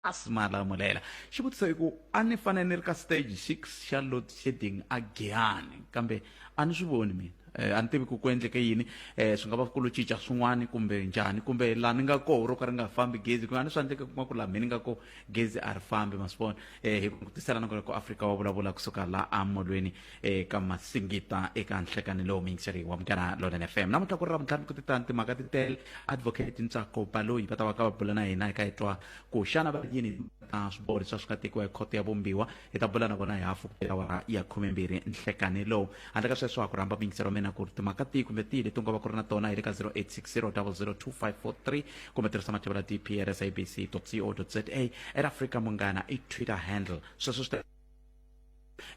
Asmala Mulela, Xivutiso i ku a ni fanele ni ri ka stage six xa load shedding a Giyani kambe a ni swi voni mina eh, a ni tivi ku ku endleke yini eh, swi nga va ku lo cinca swin'wana kumbe njhani kumbe laha ni nga koho ro ka ri nga fambi gezi ku nga ni swa endleke kuma ku laha mina ni nga ko gezi a ri fambi ma swi vona eh, hi ku tiselana ku ri ku afrika wa vulavula kusuka laha amolweni eka masingita eka nhlekani lowu miyingiseriwa wa munghana lonene fm namuntlha ku ri ravuntlhanu ku titani timhaka ti tele advocate ntsako baloyi va ta va ka va bula na hina hi ka hi twa ku xana va ri yini ta swiboho leswi a swi nga tekiwa hi khoto ya vumbiwa hi ta bula na vona hi hafu ku awara ya khumembirhi nhlekani lowu handle ka sweswo ha ku rhamba miyingisero mina ku ri timhaka tihi kumbe tihi leti nga va ku ri na tona hi le ka 0860002543 kumbe tirhisa mativula dpr sabc co za at africa munghana i twitter handle sweswo swi ta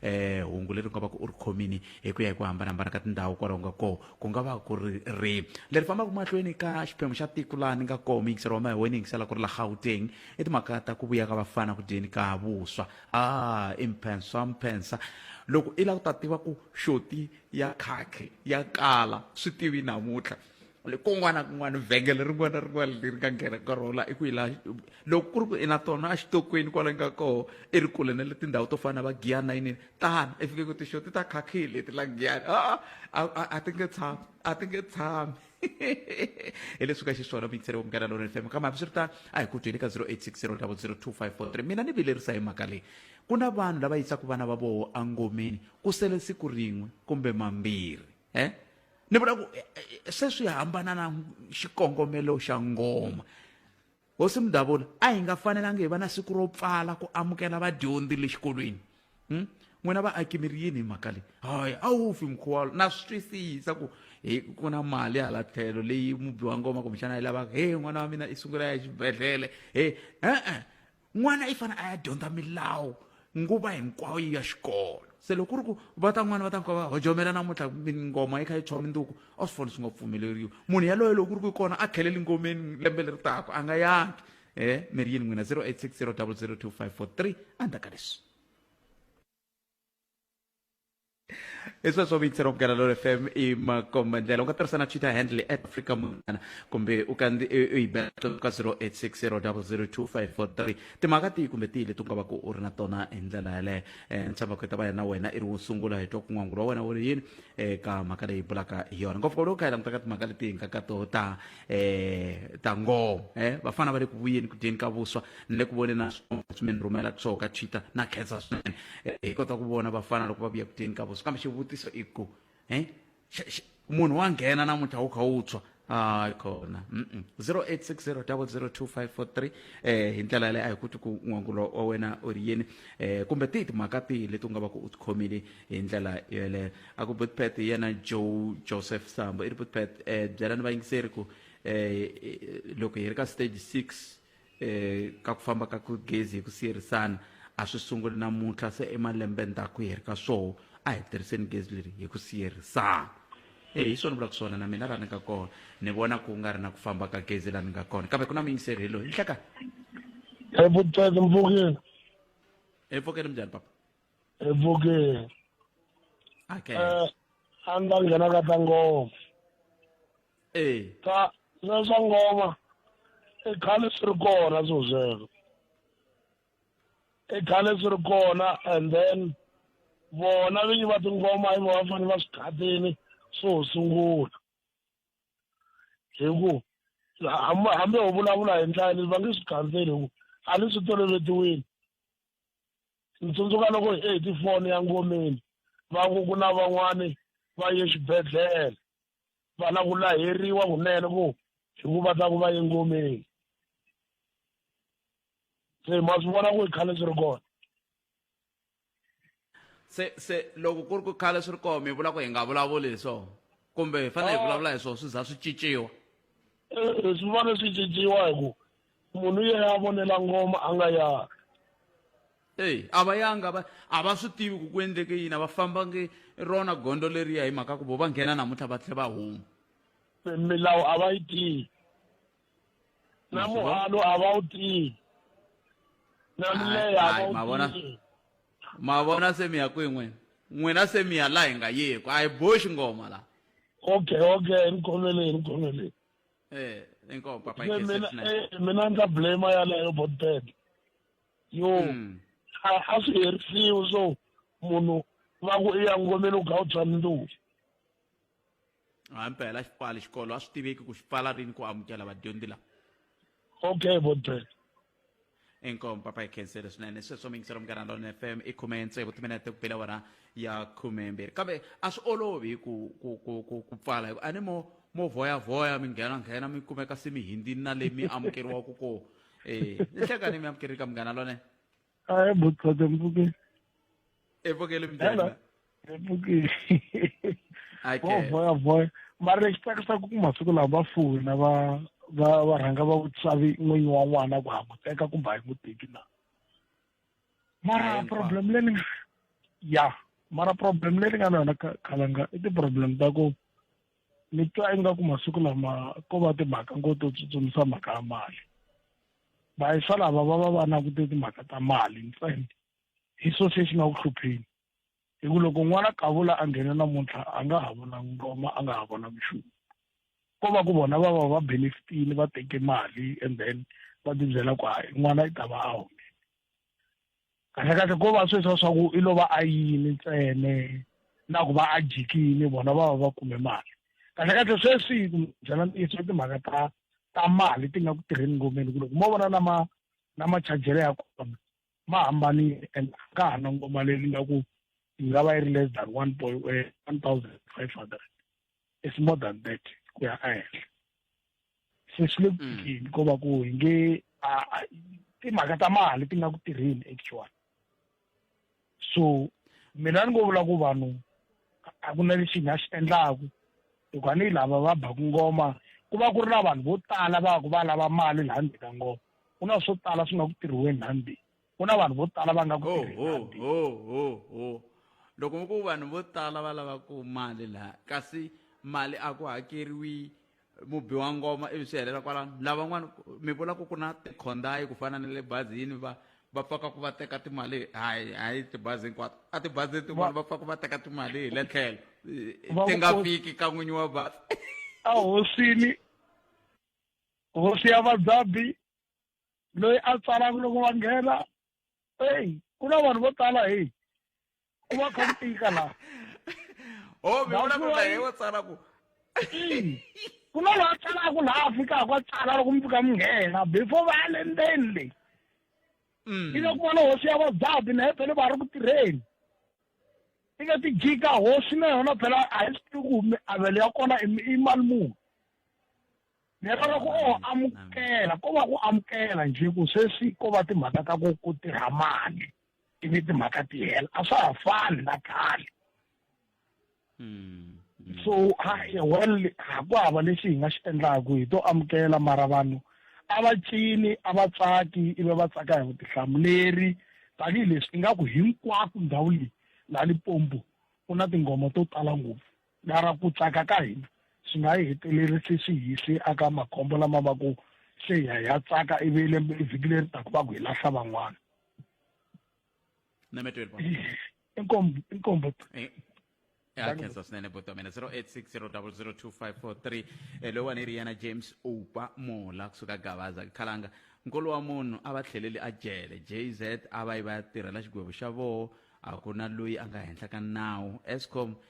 eh hungu leri nga va ku u ri khomini hi ku ya hi ku hambanahambana ka tindhawu kwalaho nga koho ku nga va ku ri ri leri fambaka mahlweni ka xiphemu xa tiko laha ni nga koho miyingiselo wa mahewena yingisela ku ri la gauteng i timhaka ta ku vuya ka vafana ku dyeni ka vuswa a ah, i mphensa mphensa loko i lava ku ta tiva ku xoti ya khakhe ya kala swi tivi namuntlha kun'wana kun'wana vhengele rin'wana na rin'wana leri nga nghena ka rona i ku yi laha loko ku ri ku i na tona exitokweni kwala nga koho i ri kule na le tindhawu to fana na va giyana yinini tani i fike ku tixo ti ta khakhile leti la giyana a a ti nge tshami a ti nge tshami hi leswi ka xiswona mixere wa munghana lona fm kambe hambi swi ri tano a hi ku byeli ka 0860 mina ni vilerisa hi mhaka leyi ku na vanhu lava yisaka vana va voho angomeni ku sele siku rin'we kumbe mambirhi eh? ni vula ku eh, eh, se swi hambana na xikongomelo xa ngoma hosi mudavula a hi nga fanelanga hi va na siku ro pfala ku amukela vadyondzi le xikolweni hmm? n'wina vaaki mi ri yini hi mhaka leyi hayi a wu fi mukhuwalo na swi twisisa ku hi ku na mali hala tlhelo leyi mubi wa ngoma kumbexana yi lavaka he n'wana wa mina i sungula ya xibedhlele he e-e n'wana i fanele a ya dyondza milawu nguva hinkwayo ya xikolo se loko ku ri ku va ta n'wana va ta fika va hojomela namuntlha ngoma yi kha yi tshiwa minduku a swi foni swi nga pfumeleriwi munhu yaloyo loko ku ri ku kona a tlheleli ngomeni lembe leri taka a nga yangi e mi ri yini n'wina 0860 002 543 a ndzaka leswi Isso é só me interromper, Canador FM e uma comandela. Uma terça na chita handle at Africa Mungana. Kumbe ukandi ibeto ka 0860002543. Timhaka tihi kumbe tihi leti u nga va ku u ri na tona hi ndlela yaleyo. Eh, Ntshava ku ta va yena wena i ri wo sungula hi twa ku n'wangu wa wena wu ri yini eka mhaka leyi bulaka hi yona. Ngopfu lowu ka hi langutaka timhaka leti hi nga ka to ta eh ta ngoho eh vafana va le ku vuyeni ku dyeni ka vuswa ni le ku voneni na swona leswi mi ni rhumelaka swona ka twitter na khensa swinene Eh, hi kota ku vona vafana loko va vuya ku dyeni ka vuswa kambe xivutiso i ku eh xa- xa- munhu wa nghena namuntlha wu kha wu tshwa hayi kona Mm-mm. 0860 002543 eh hi ndlela yaleyo a hi kuti ku n'wangulo wa wena u ri yini eh kumbe tihi timhaka tihi leti u nga va ku u tikhomile hi ndlela yeleyo a ku butpet yena joe joseph sambo i ri butpet um eh, byelani vayingiseri ku um loko hi ri ka stage six um ka ku famba ka ku gezi hi ku siyerisana a swi sunguli namuntlha se emalembe ndzhaku hi ri ka swoho a hi tirhiseni gezi leri hi ku siyerisana e hi swona vulaka swona na mina laha ni nga kona ni vona ku nga ri na ku famba ka gezi laha ni nga kona kambe ku na muyingiseri hi loyi nhleka evutseki mpfukeni empfukeni minjhani papa evukeni okay um a ni ta nghena ka ta ngoma ee ta swa swa ngoma i khale swi ri kona swo sweswo i khale swi ri kona and then vona vinyi va tingoma i va fanele va swi khatini swo sungula hi ku hambi ho vulavula hi ndlela leyi va nge swi khandzeli hi ku a ni swi tolovetiwile Ndzi tsundzuka loko hi heti foni ya ngomeni va ku ku na van'wani va ye xibedhlele va la ku laheriwa kunene ku hi ku va ta ku va ye ngomeni se ma swi vona ku i khale swi ri kona se se loko ku ri ku khale swi ri kona mi vula ku hi nga vulavuli hi swona kumbe hi fanele hi vulavula hi swona swi za swi cinciwa swi fanele swi cinciwa hi ku munhu yeyi a vonela ngoma a nga yari eyi a va yanga a va a va swi tivi ku ku endleke yini a va fambangi rona gondo leriya hi mhaka ku vo va nghena namuntlha va tlhe va huma milawu a va yi tivi na muhalo a va wu tivi na mileya a Hayi, va ma wu vona- tivi ma vona se mi ya kwihi n'wina n'wina se mi ya laha hi nga yeku a hi boxi ngoma laha okay okay ni khoneleni ni khoneleni eh inkomo papa Yeah, mina ikhethe eh, mina ndza blame yaleyo bontene yo Mm. a a swi herisiwi so munhu va ku i ya ngomeni u gawu bya ndlulu hampela xi pfali xikolo a swi tiveki ku xi pfala rini ku amukela vadyondzi lava okay bontene inkomba pa ekhenseri swinene sweswo mingiselo munghana lona fm i khume ntsevu timinete ku pela wona ya khume mbirhi kambe a swi olovi ku ku ku ku ku pfala hikuva a ni mo mo voyavoya mi nghena nghena mi kumeka se mi hindini na le mi amukeriwaka kona um ni hlekani mi amukerika munghana lone hayi butsotsi mpuke epfukeli mbhele eh, epfukeli okay. voya voya mara lexi tsakisaka ku masiku lawa va fona va va va rhanga va vutswavi n'winyi wa n'wana ku ha ku teka kumbe a yi n'wi teki na mara problem leyi ya mara problem leyi nga na yona khalanga i ti-problem ta ku ni twa ingaku masiku lama ko va timhaka ngo to tsutsumisa mhaka ya mali vayisa lava va va va langute timhaka ta mali ntsena hi sausage na ku hlupheni hi ku loko n'wana kavula a nghena namuntlha a nga ha vona ngoma a nga ha vona vuxungu ko va ku vona va va va benefitile va teke mali and then va tibyela ku hayi n'wana i ta va a home kahlekahle ko va sweswa swa ku i lo va a yini ntsene na ku va a jikile vona va va va kume mali kahlekahle sweswi byela ntiyiso timhaka ta ta mali ti nga ku tirheni ngomeni ku loko mo vona na ma na machajelo ya kona ma hambanile and a nga ha nongomaleli nga ku yi nga va yi ri less than one point eh, one thousand five hundred it's more than that ku ya ehenhla se swi le kuini mm. ko va ku hi nge timhaka ta mali ti nga ku tirheni actually so mina ni ngo vula ku vanhu a ku na lexi nga xi endlaku hikuva ni lava va baku ngoma ku va ku ri na vanhu vo tala va ku va lava mali laha ndzeni ka ngoma ku na swo tala swi nga ku tirhiweni hambi ku na vanhu vo tala va nga ku tirhihambi ho ho ho loko mi ku vanhu vo tala va lava ku mali laha kasi mali a ku hakeriwi mubi wa ngoma ivi swi helela kwalano lavan'wana mi vula ku ku na tikhondayi ku fana na le bazini va va pfaka ku va teka timali hayi hayi tibazi hinkwato a tibazini tin'wana va pfaka va teka timali hi le tlhelo ti nga fiki ka n'winyi wa bazi a hosini hosi ya vadzabi loyi a tsalaka loko va nghena eyi ku na vanhu vo tala heyi ku va kha ku tika laha o mi vona ku na heyi wo tsala ku ku na loyi a tsalaka laha a fikaka a tsala loko mi fika mi nghena before va ya le ndzeni leyi mm. ika ku vona hosi ya vadzabi na hepele va ri ku tirheni ika ti jika hosi na yona phela a yi swi tivi ku mi avelo ya kona i mali muni ni rhandza ku o amukela ko va ku amukela njhe ku sweswi ko va timhaka ta ku ku tirha mali ivi timhaka ti hela a swa ha fani na khale hmm, hmm. so well ha ku hava lexi hi nga xi endlaku hi to amukela mara vanhu a va cini a va tsaki ivi va tsaka hi vutihlamuleri tanihileswi ingaku hinkwako ndhawu leyi la lipombo ku na tinghoma to tala ngopfu Mara ku tsaka ka hina swi nga yi hetelerisi swi hi se aka makhombo lama va ku se hi ya hi ya tsaka ivi lembe vhiki leri taku va ku hi lahla van'wana inkombo inkombo ya khensa swinene buti wa mina 0860002543 eh, loyiwani yi ri yena james upa mola kusuka gavaza khalanga nkolo wa munhu a va tlheleli a jele jz a va yi va ya tirhela xigwevo xa voho a ku na loyi a nga henhla ka nawu escom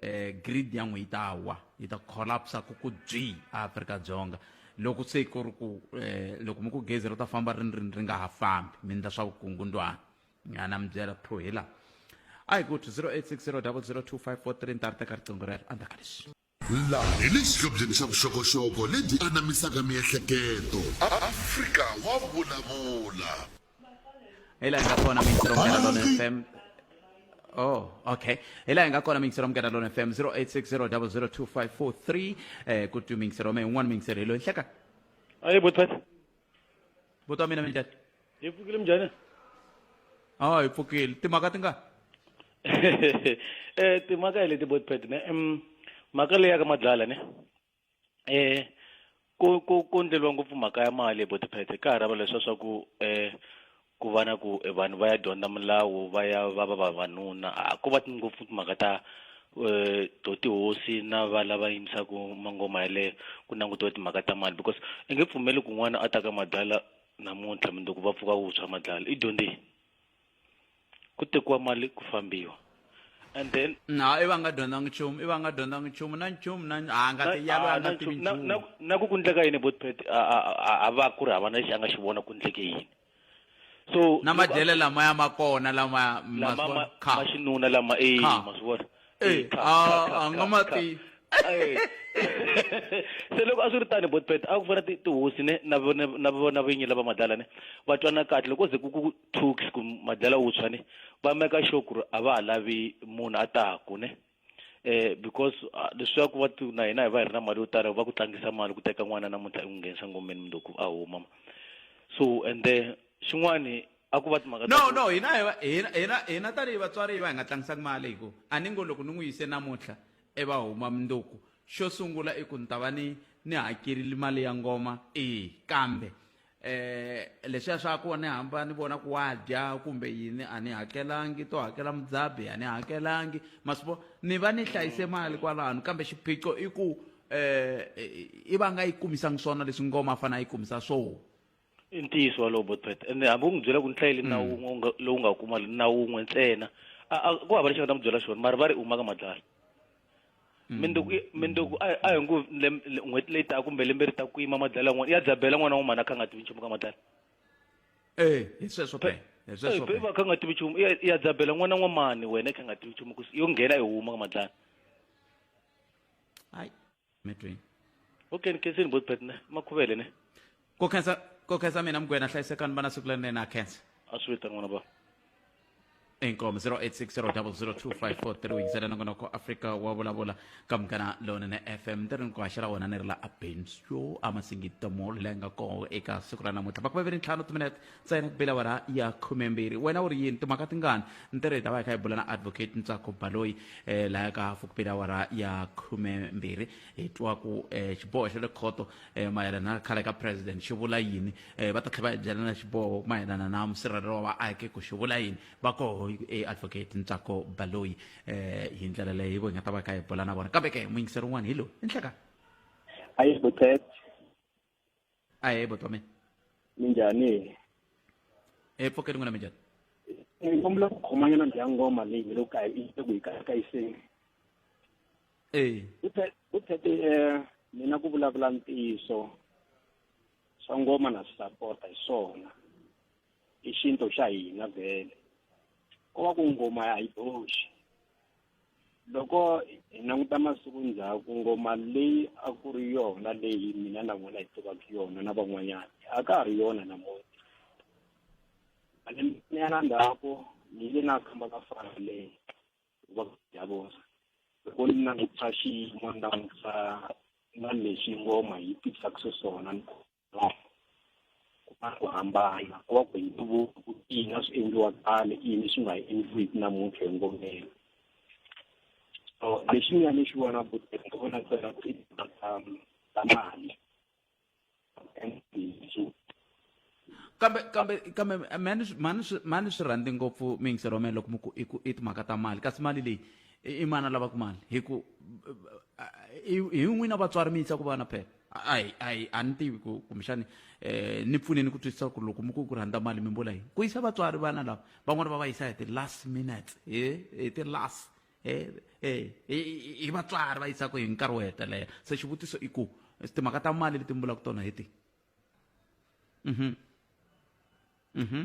eh grid ya n'we yi ta wa yi ta collapse ku ku byi Afrika-Dzonga loko se ku ri ku eh loko mi ku gezi ri ta famba ri ri ri nga ha fambi mi ndla swa vukungundwana ya na mi byela pho hi laha a hi ku 0860002543 ni ta ri teka riqingho rero andza ka leswi laha hi le xihlobyeni xa vuxokoxoko lebyi anamisaka miehleketo afrika wa vulavula hi laha hi nga kona mixero mgadalon fm Oh, okay. Hi laha hi nga kona mixero mgadalon fm 0860002543 eh ku twi mixero me un'wana mixero hi loyi hleka ayi bothat vuto wa mina minjhani hi pfukile mjhani oh hi pfukile timhaka ti nga eh timhaka hi leti botpet ne em mhaka leya ka madlala ne um ku ku ku endleriwa ngopfu mhaka ya mali hi bo tiphesente ka ha ri hava leswiya swa ku um ku va na ku e vanhu va ya dyondza milawu va ya va va vavanuna a ko va ngopfu timhaka ta um to tihosi na va lava yimisaku mangoma yaleyo ku langutiwa timhaka ta mali because i nge pfumeli ku n'wana a ta ka mabyala namuntlha mundzuku va pfuka vutshwa mabyala i dyondzini. ku tekiwa mali ku fambiwa and then na i va nga dyondzanga nchumu i va nga dyondzanga nchumu na nchumu na a nga ti yalo a nga tivi na- nchumu na- na ku ku ndleka yini botpet a va ku ri hava na lexi a nga xi vona ku ndleke yini so na loko a- madyele lamaya ma kona lama ma lama swi ma- vona? Kha. ma xinuna lama e Kha. ma swi vona Eh, Eh, kha, a- kha, kha, a nga kha, ma kha. tivi. Eh. se loko a swi ri tani botpet a ku fana ti- tihosi ne na vona na vona vinyi lava madlala ne va twana kahle loko ze ku ku Tuks ku madlela wuntshwa ne va meka sure ku ri a va ha lavi munhu a taku ne eh because ah, leswiya ku va ti na hina hi va hi ri na mali yo tala va ku tlangisa mali ku teka n'wana namuntlha i n'wi nghenisa ngomeni mundzuku a huma ma so and then xin'wani a ku va timhaka ta no ku- no hina hi va- hina hina hina tanihi vatswari hi va hi nga tlangisaki mali hi ku a ni ngo loko ni n'wi yise namuntlha i va huma mundzuku xo sungula i ku ni ta va ni ni hakerile mali ya ngoma eya kambe eh leswiya swa ku ni hamba ni vona ku wa dya kumbe yini a ni hakelangi to hakela mudzabi a ni hakelangi ma swi vona ni va ni hlayise mali kwalano kambe xiphiqo i ku eh i va nga yi kumisangi swona leswi ngoma a fanele a yi kumisa swona i ntiyiso walowo botpet ende hambi u n'wi byela ku ni hlayele na wun'we u nga- lowu nga kuma na wun'we ntsena a- a- ku hava lexi nga ta n'wi byela xona mara va ri u maka madlala Mm. mindzuku i- mindzuku a a hi ngo lem- le- n'hweti leyi taka kumbe lembe ri ta ku yima madlala n'wana ya dzabela n'wana wun'wana a kha a nga tivi nchumu ka madlala Eh, hi sweswo pe. Hi sweswo pe. va kha a nga tivi nchumu ya- ya dzabela n'wana n'wa mani wena i kha a nga tivi nchumu ku yo nghena i huma ka madlala Hayi. medwini o keni khenseni bo tiphet ne makhuvele ne ko khensa ko khensa mina mugwena hlayisekani vana siku lerinene a khensa a swi vita n'wana ba inkomo 0860002543 ntsena nongonoko afrika wa vulavula ka munghana lonene fm ni ri ni ku haxela wona ni ri la abensyo amasingita mall leyi nga kona eka siku ra namuntlha va ku vaveri ntlhanu timinete ntsena ku bela awara ya khumembirhi wena u ri yini timhaka tingani ntirho hi ta va hi kha hi bula na advocate ntsako baloyi um laya ka hafu ku bela awara ya khumembirhi hi twa ku um xiboho xa le khoto um mayelana na khale ka president xi vula yini um va ta tlhela va hi byela na xiboho mayelana na musirhelelo wa vaaki ku xi vula yini va koho e advocate ntsako baloyi um hi ndlela leyi hi vo hi nga ta va hi kha hi bula na vona kambe ke muyingiseri un'wana hi loyi i nhlekani ayebo chet ahe bhuti wa mina minjhani e pfuke rin'wana minjhani ni kombela ku khomanyana ndzi ya ngoma leyi hi loko kayi yi ku yi kayiseni e ku thete um mina ku vulavula ntiyiso swa ngoma na swi sapota hi swona i xinto xa hina vhele ko va ku ngoma a yi boxi loko hi languta masiku ndzhaku ngoma leyi a ku ri yona leyi mina na vona hi tivaka yona na van'wanyana a ka ha ri yona namuntlha malembenyana ndzhaku ni yile na khamba ka fana leyi va ya vona loko ni langutisa xiyimo ni langutisa na leswi ngoma yi tisaka xiswona ni ku va ku hambana ku va ku hi ntuvuko ku ina swi endliwa khale ini swi nga endliwiki namuntlha hi ngomeni so lexi nga ni xi vona buteni ku vona tsela ku i ta ta mali kambe kambe kambe mani mani mani swi rhandzi ngopfu mingisero wa mina loko mi ku i ku i timhaka ta mali kasi mali leyi i mana lava ku mali hi ku hi n'wina vatswari mi yisa ku vana phela a hi a hi a ni tivi ku kumbexani um ni pfuneni ku twisisa ku loko mi ku ku rhandza mali mi mbula yini ku yisa vatswari vana lava van'wana va va yisa hi ti-last minutes hi hi ti-last hi vatswari va yisaka hi nkarhi wo hetelela se xivutiso i ku timhaka ta mali leti mbulaka tona hi ti mhm mhm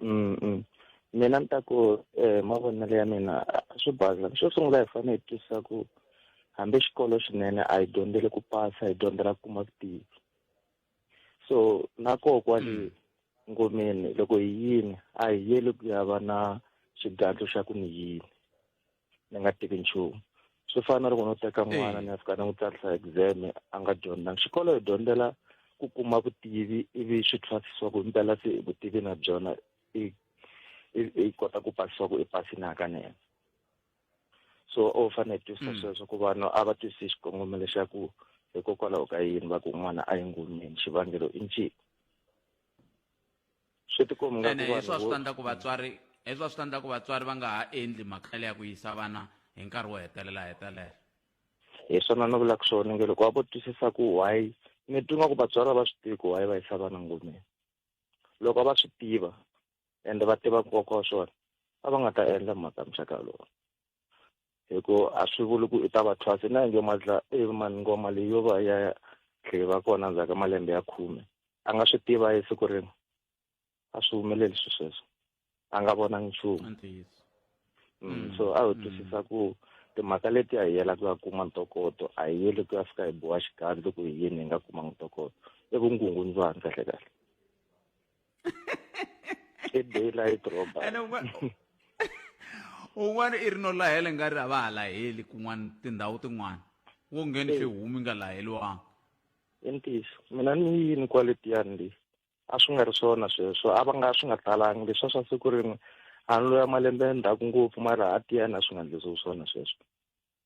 mm -mm. mina ni ta ku eh, mavonelo ya mina swi baza xo sungula hi fanele hi twisisa ku hambi xikolo xinene a hi dyondzele ku pasa hi dyondzela ku kuma vutivi so na koho kwale mm. ngomeni loko hi yini a hi yeli ku ya va na xigandlo xa ku ni yini ni nga tivi nchumu swi fana na loko no teka n'wana ni ya fika ni n'wi tsarisa exam a nga dyondzanga xikolo hi dyondzela ku kuma vutivi ivi swi thwasisiwa ku himpela se vutivi na byona i i kota ku pasisa ku i pasini hakanene so u fanele hi twisisa sweswo ku vanhu a va twisisi xikongomelo xa ku hikokwalaho ka yini va ku n'wana a yi ngomeni xivangelo i ncini swi tikomi nga ene heswa swi ta ndla ku vatswari heswa swi ta ndla ku vatswari va nga ha endli mhaka ya ku yisa vana hi nkarhi wo hetelela hetelela hi swona ni vulaka swona nge loko va vo twisisa ku why ni twi nga ku vatswari va swi tivi ku why va yisa vana ngomeni loko va swi tiva ende va tiva nkoka wa swona a va nga ta endla mhaka muxaka lowu hi ku a swi vuli ku i ta va thwasi na yinge madla i e, mani ngoma leyi yo va ya tlhe va kona ndzhaku ka malembe ya khume a nga swi tiva hi siku rin'we a swi humeleli swi sweswo a nga vona nchumu mm, mm, so a wu mm. twisisa ku timhaka leti a hi yela ku ya kuma ntokoto a hi yeli ku ya fika hi boha xikandlo ku hi yini hi nga kumanga ntokoto i vungungundzwani kahle kahle i daylight robbery ene un'wana un'wana i ri no lahela nga ri a va ha laheli kun'wana tindhawu tin'wana wo ngheni swi humi nga laheliwanga i ntiyiso mina ni yini kwale tiyani leyi a swi nga ri swona sweswo a va nga swi nga talangi leswa swa siku rin'we a ni loya malembe ndzhaku ngopfu mara a tiyani a swi nga endlisiwi swona sweswo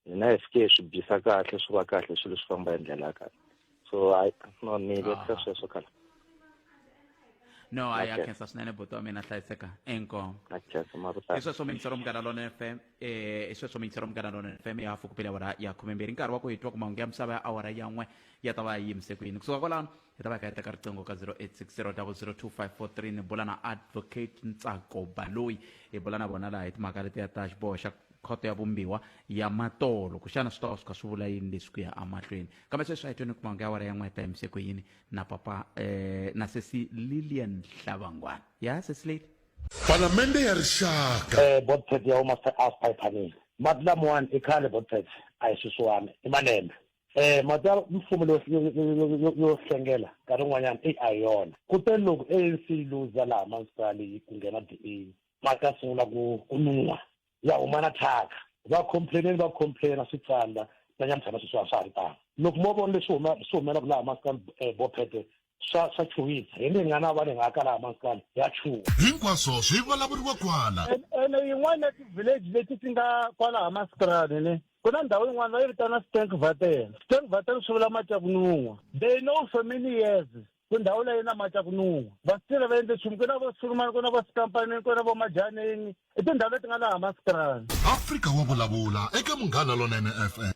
ni na fk swi bisa kahle swi va kahle swilo swi famba hi ndlela ya kahle so i no ni vekisa ah. sweswo khala no a ya khensa swinene buti wa mina hlayiseka inkomo i sweswo mingisero munghana lona fm eh, i sweswo mingisero munghana lona fm ya hafu kupele awara ya khumembirhi nkarhi wa ku hi twa ku mahungu ya misava ya awara yan'we ya ta va yi yimise ku yini kusuka kwalano hi ta va hi ka yi teka riqingho ka 0860002543 ni bula na advocate ntsako baloyi hi bula na vona laha hi timhaka letiya ta xiboho xa khoto ya vumbiwa ya matolo kuxana swi ta va swi kha swi vula yini leswi ku ya amahlweni kambe sweswi a hi tweni kumanga ya wara ya n'weta yimise ku yini na papa eh, na sesi lilian hlavangwana ya sesi lady palamende ya rixaka eh botpet ya huma se a spy panel mati lamawani i khale botpet a hi swisiwani i malembe Eh matsalwa mfumo lo yo hlengela nkarhi un'wanyana i a yona kutani loko ANC yi luza laha masipala yi ku nghena DA va ta sungula ku ku nuha ya huma na thyaka va complaineni va complaina swi tsandza na nyamuthana sweswi a swa ha ri tano loko mo vona leswi huma swi humelaka laha masipala eh, bophete swa swa chuwisa hi ndzi nga na va ni nga kala maskani ya chuwa hinkwaswo swi vulavuriwa kwala ene yin'wana ya ti-village leti ti nga kwala ha maskrani ne ku na ndhawu yin'wana va yi vitana stank vatel stank vatel swi vula mati ya ku nun'wa they know for many years ku ndhawu leyi na mati ya ku nun'wa va sitile va endle nchumu ku na vo sulumani ku na vo sikampanini ku na vo majaneni i tindhawu leti nga laha maskrani afrika wa vulavula eka munghana lonene fm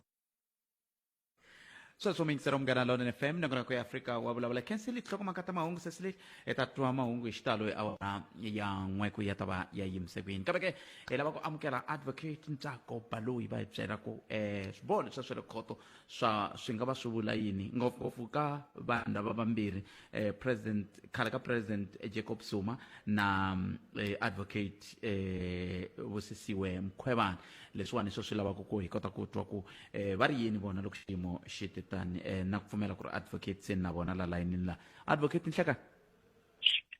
sweswo mi yingisela munghana lonene fm nongonoko ya afrika wa vulavula khensi li hlokomaka ta mahungu sesi lexi hi ta twa mahungu hi xitalo hi awara ya n'we ku ya ta va ya yimise kwini kambe ke hi lava ku amukela advocate ntsako baloyi va hi byela ku um swiboho leswa swa le khoto swa swi nga va swi vula yini ngopfungopfu ka vanhu lava vambirhi um president khale ka president jacob zuma na um, advocate um vusisiwe mkhwevana leswiwani swo swi lavaka ku hi kota ku twa ku eh, va ri yini vona loko xiyimo xi te tani eh, na ku pfumela ku ri advocate se na vona la layinini la advocate nhleka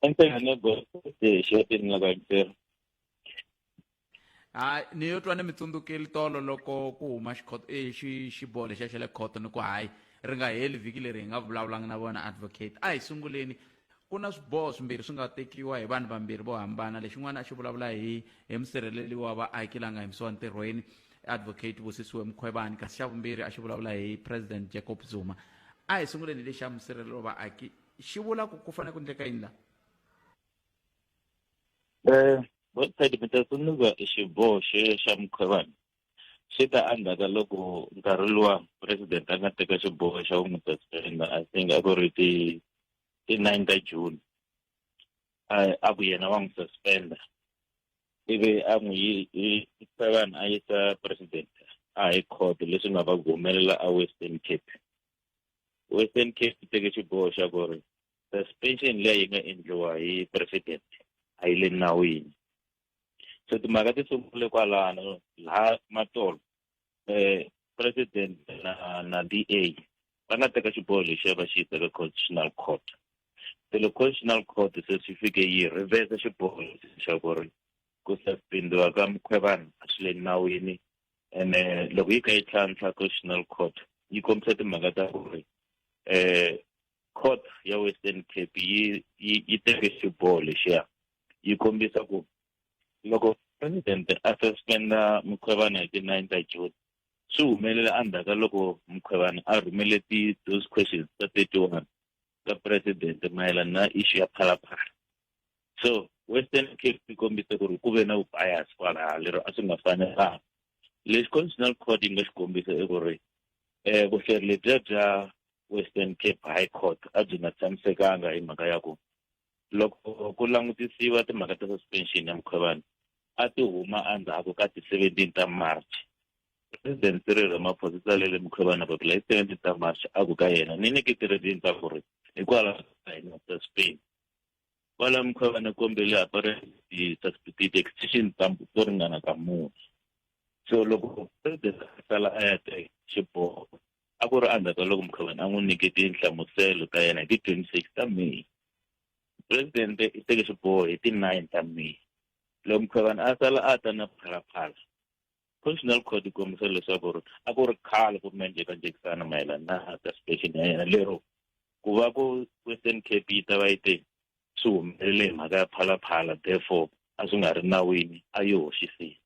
enhlekane gosi xiyatini la kayintera ha ni yo twa ni mi tsundzukeli tolo loko ku huma xikhoto eh, xi xiboho lexiya xa le khoto ni ku hayi ri nga heli vhiki leri hi nga vulavulanga na vona advocate a hi sunguleni Ku na swiboho swimbirhi swi nga tekiwa hi vanhu vambirhi vo hambana. Lexin'wana a xi vulavula hi hi musirheleli wa vaaki la nga yimisiwa ntirhweni, Advocate Busisiwe Mkhwebane, kasi xa vumbirhi a xi vulavula hi President Jacob Zuma. A hi sunguleni hi lexi xa musirheleli wa vaaki. Xi vula ku ku fanele ku endleka yini la? Website mi ta tsundzuka xiboho xo xa Mkhwebane swi ta endzhaka loko nkarhi luwa president a nga teka xiboho xa ku n'wi suspenda i think a ku ri ti ti nine ta june a ku yena wa n'wi suspenda ivi a n'wi yisa vanhu a yisa president a hi court leswi nga va ku humelela a western cape western cape yi teke xiboho xa ku ri suspension leyi nga endliwa hi president a yi le nawini so timhaka ti sungule kwalano laha matolo um president na na d a va nga teka xiboho lexi ya va xi yisa ka constitutional court se loko constitutional court se swi fike yi rivesa xiboho xa ku ri ku suspendiwa ka mukhwevana a swi le nawini ene loko yi kha yi tlhantlha constitutional court yi kombisa timhaka ta ku ri um court ya western cape yi yi yi teke xiboho lexiya yi kombisa ku loko presidente a suspenda mukhwevana hi ti-nine ta june swi humelele endzhaku ka loko mukhwevana a rhumele ti-those questions ta thirty one ka presidente mayelana na issue ya phalaphala so western cape yi kombise ku ri ku ve na vubias kwalaha lero a swi nga fanelanga lexi constitutional court yi nga xi kombisa i ku ri um vuhleri lebyiya bya western cape high court a byi nga tshamisekanga hi mhaka ya ku loko ku langutisiwa timhaka ta suspension ya mukhwevani a ti huma endzhaku ka ti-seventeen ta march president cyril ramaphosa i tsalele mukhwevana papila hi seventeen ta march a ku ka yena ni ni kitiredini ta ku ri hikwalaho ka hina ta spain kwala mukhwevana kombele apareti ti-extension ta to ringana ka mune so loko president a sala a ya teka xiboho a ku ri endzhaku ka loko mukhavani a n'wi nyike tinhlamuselo ta yena hi ti 26 ta may presidente i teke xiboho hi ti 9 ta may loko mukhavani a sala a ta na phalaphala constitutional court yi kombisa leswaku ri a ku ri khale ku ri na njhekanjhekisana mayelana na ta station ya yena lero ku va ku western cape yi ta va yi te swi humelele hi mhaka ya phalaphala therefore a swi nga ri nawini a yi hoxisile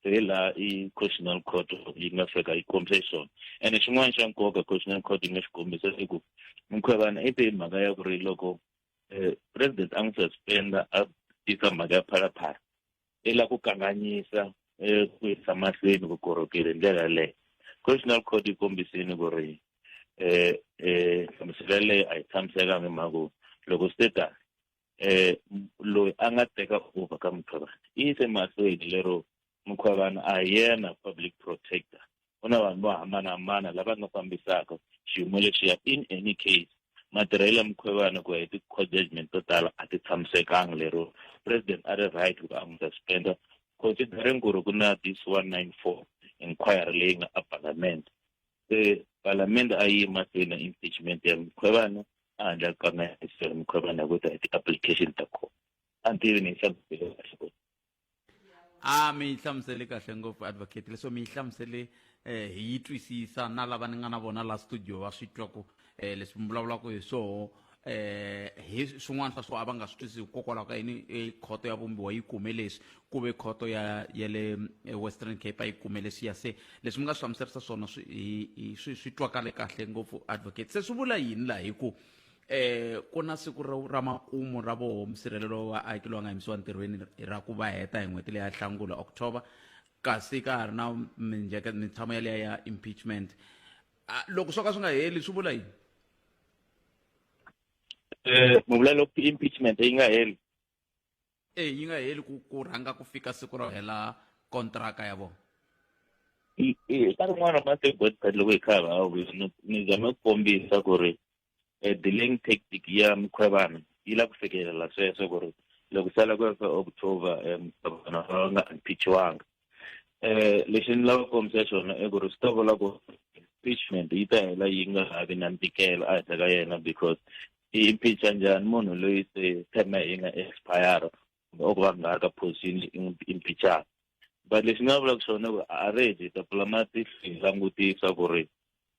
hi laha i constitutional court yi nga fika yi kombise xiswona ene xin'wana xa nkoka constitutional court yi nga xi kombisa i ku mukhwevana i te hi mhaka ya ku ri loko um president a n'wi suspenda a tisa mhaka ya phalaphala i la ku kanganyisa um ku yisa mahlweni vukorhokeri hi ndlela yaleyo constitutional court yi kombisini ku ri um um hlamuselo yaleyo a yi tshamisekanga hi mhaka ku loko status eh loyi a nga teka over ka mukhwevana i yise mahlweni lero mukhwevana a hi yena public protector ku na vanhu vo hambanahambana lava nga fambisaka xiyimo lexiya in any case matirhelo ya mukhwevana ku ya hi ti-court judgment to tala a ti tshamisekanga lero president a ri right ku a n'wi suspenda considering ku ri ku na this one nine four inquiry leyi nga a parliament se palamende a yi mahlweni impeachment ya mukhwevana a handla ka mahiselo mukhwevana ku ta ti-application ta kona a ni tivi ni yi hlamusele kahle ku a mi yi hlamusele kahle ngopfu advocate leswo mi yi hlamusele um hi yi twisisa na lava ni nga na vona la studio va swi twa ku um leswi mi vulavulaka hi swoho eh hi swin'wana swa swo a va nga swi twisisi hikokwalaho ka yini e khoto ya vumbiwa yi kume leswi ku ve khoto ya ya le e, western cape a yi kume leswi ya se leswi mi nga swi hlamuserisa swona swi swi twakale kahle ngopfu advocate se swi vula yini laha hi ku eh ku na siku ra makumu ra voho musirhelelo wa aki lowa nga yimisiwa ntirhweni ra ku va heta hi n'hweti leya hlangula october kasi ka ha ri na minjeka mintshamo yaleya ya impeachment Ah, loko swo ka swi nga heli swi vula yini eh, mi vula loko impeachment yi nga heli e yi nga heli ku ku rhanga ku fika siku ro hela kontraka ya vona ka rin'wana ra masiku botsat loko hi kha hi va ni zame ku kombisa ku ri e delaying tactic ya mukhwevana yi la ku fikelela sweswo ku ri loko sala ku fa october um vana va nga impeachiwanga eh lexi ni lava kombisa xona i ku ri swi ta vula ku impeachment yi ta hela yi nga ha vi na ntikelo a henhla ka yena because i impeacha njhani munhu loyi se terme yi nga expire or va nga ka position impeachana but lexi nga vulaka xona ku already ta pfula matihlo hi langutisa ku ri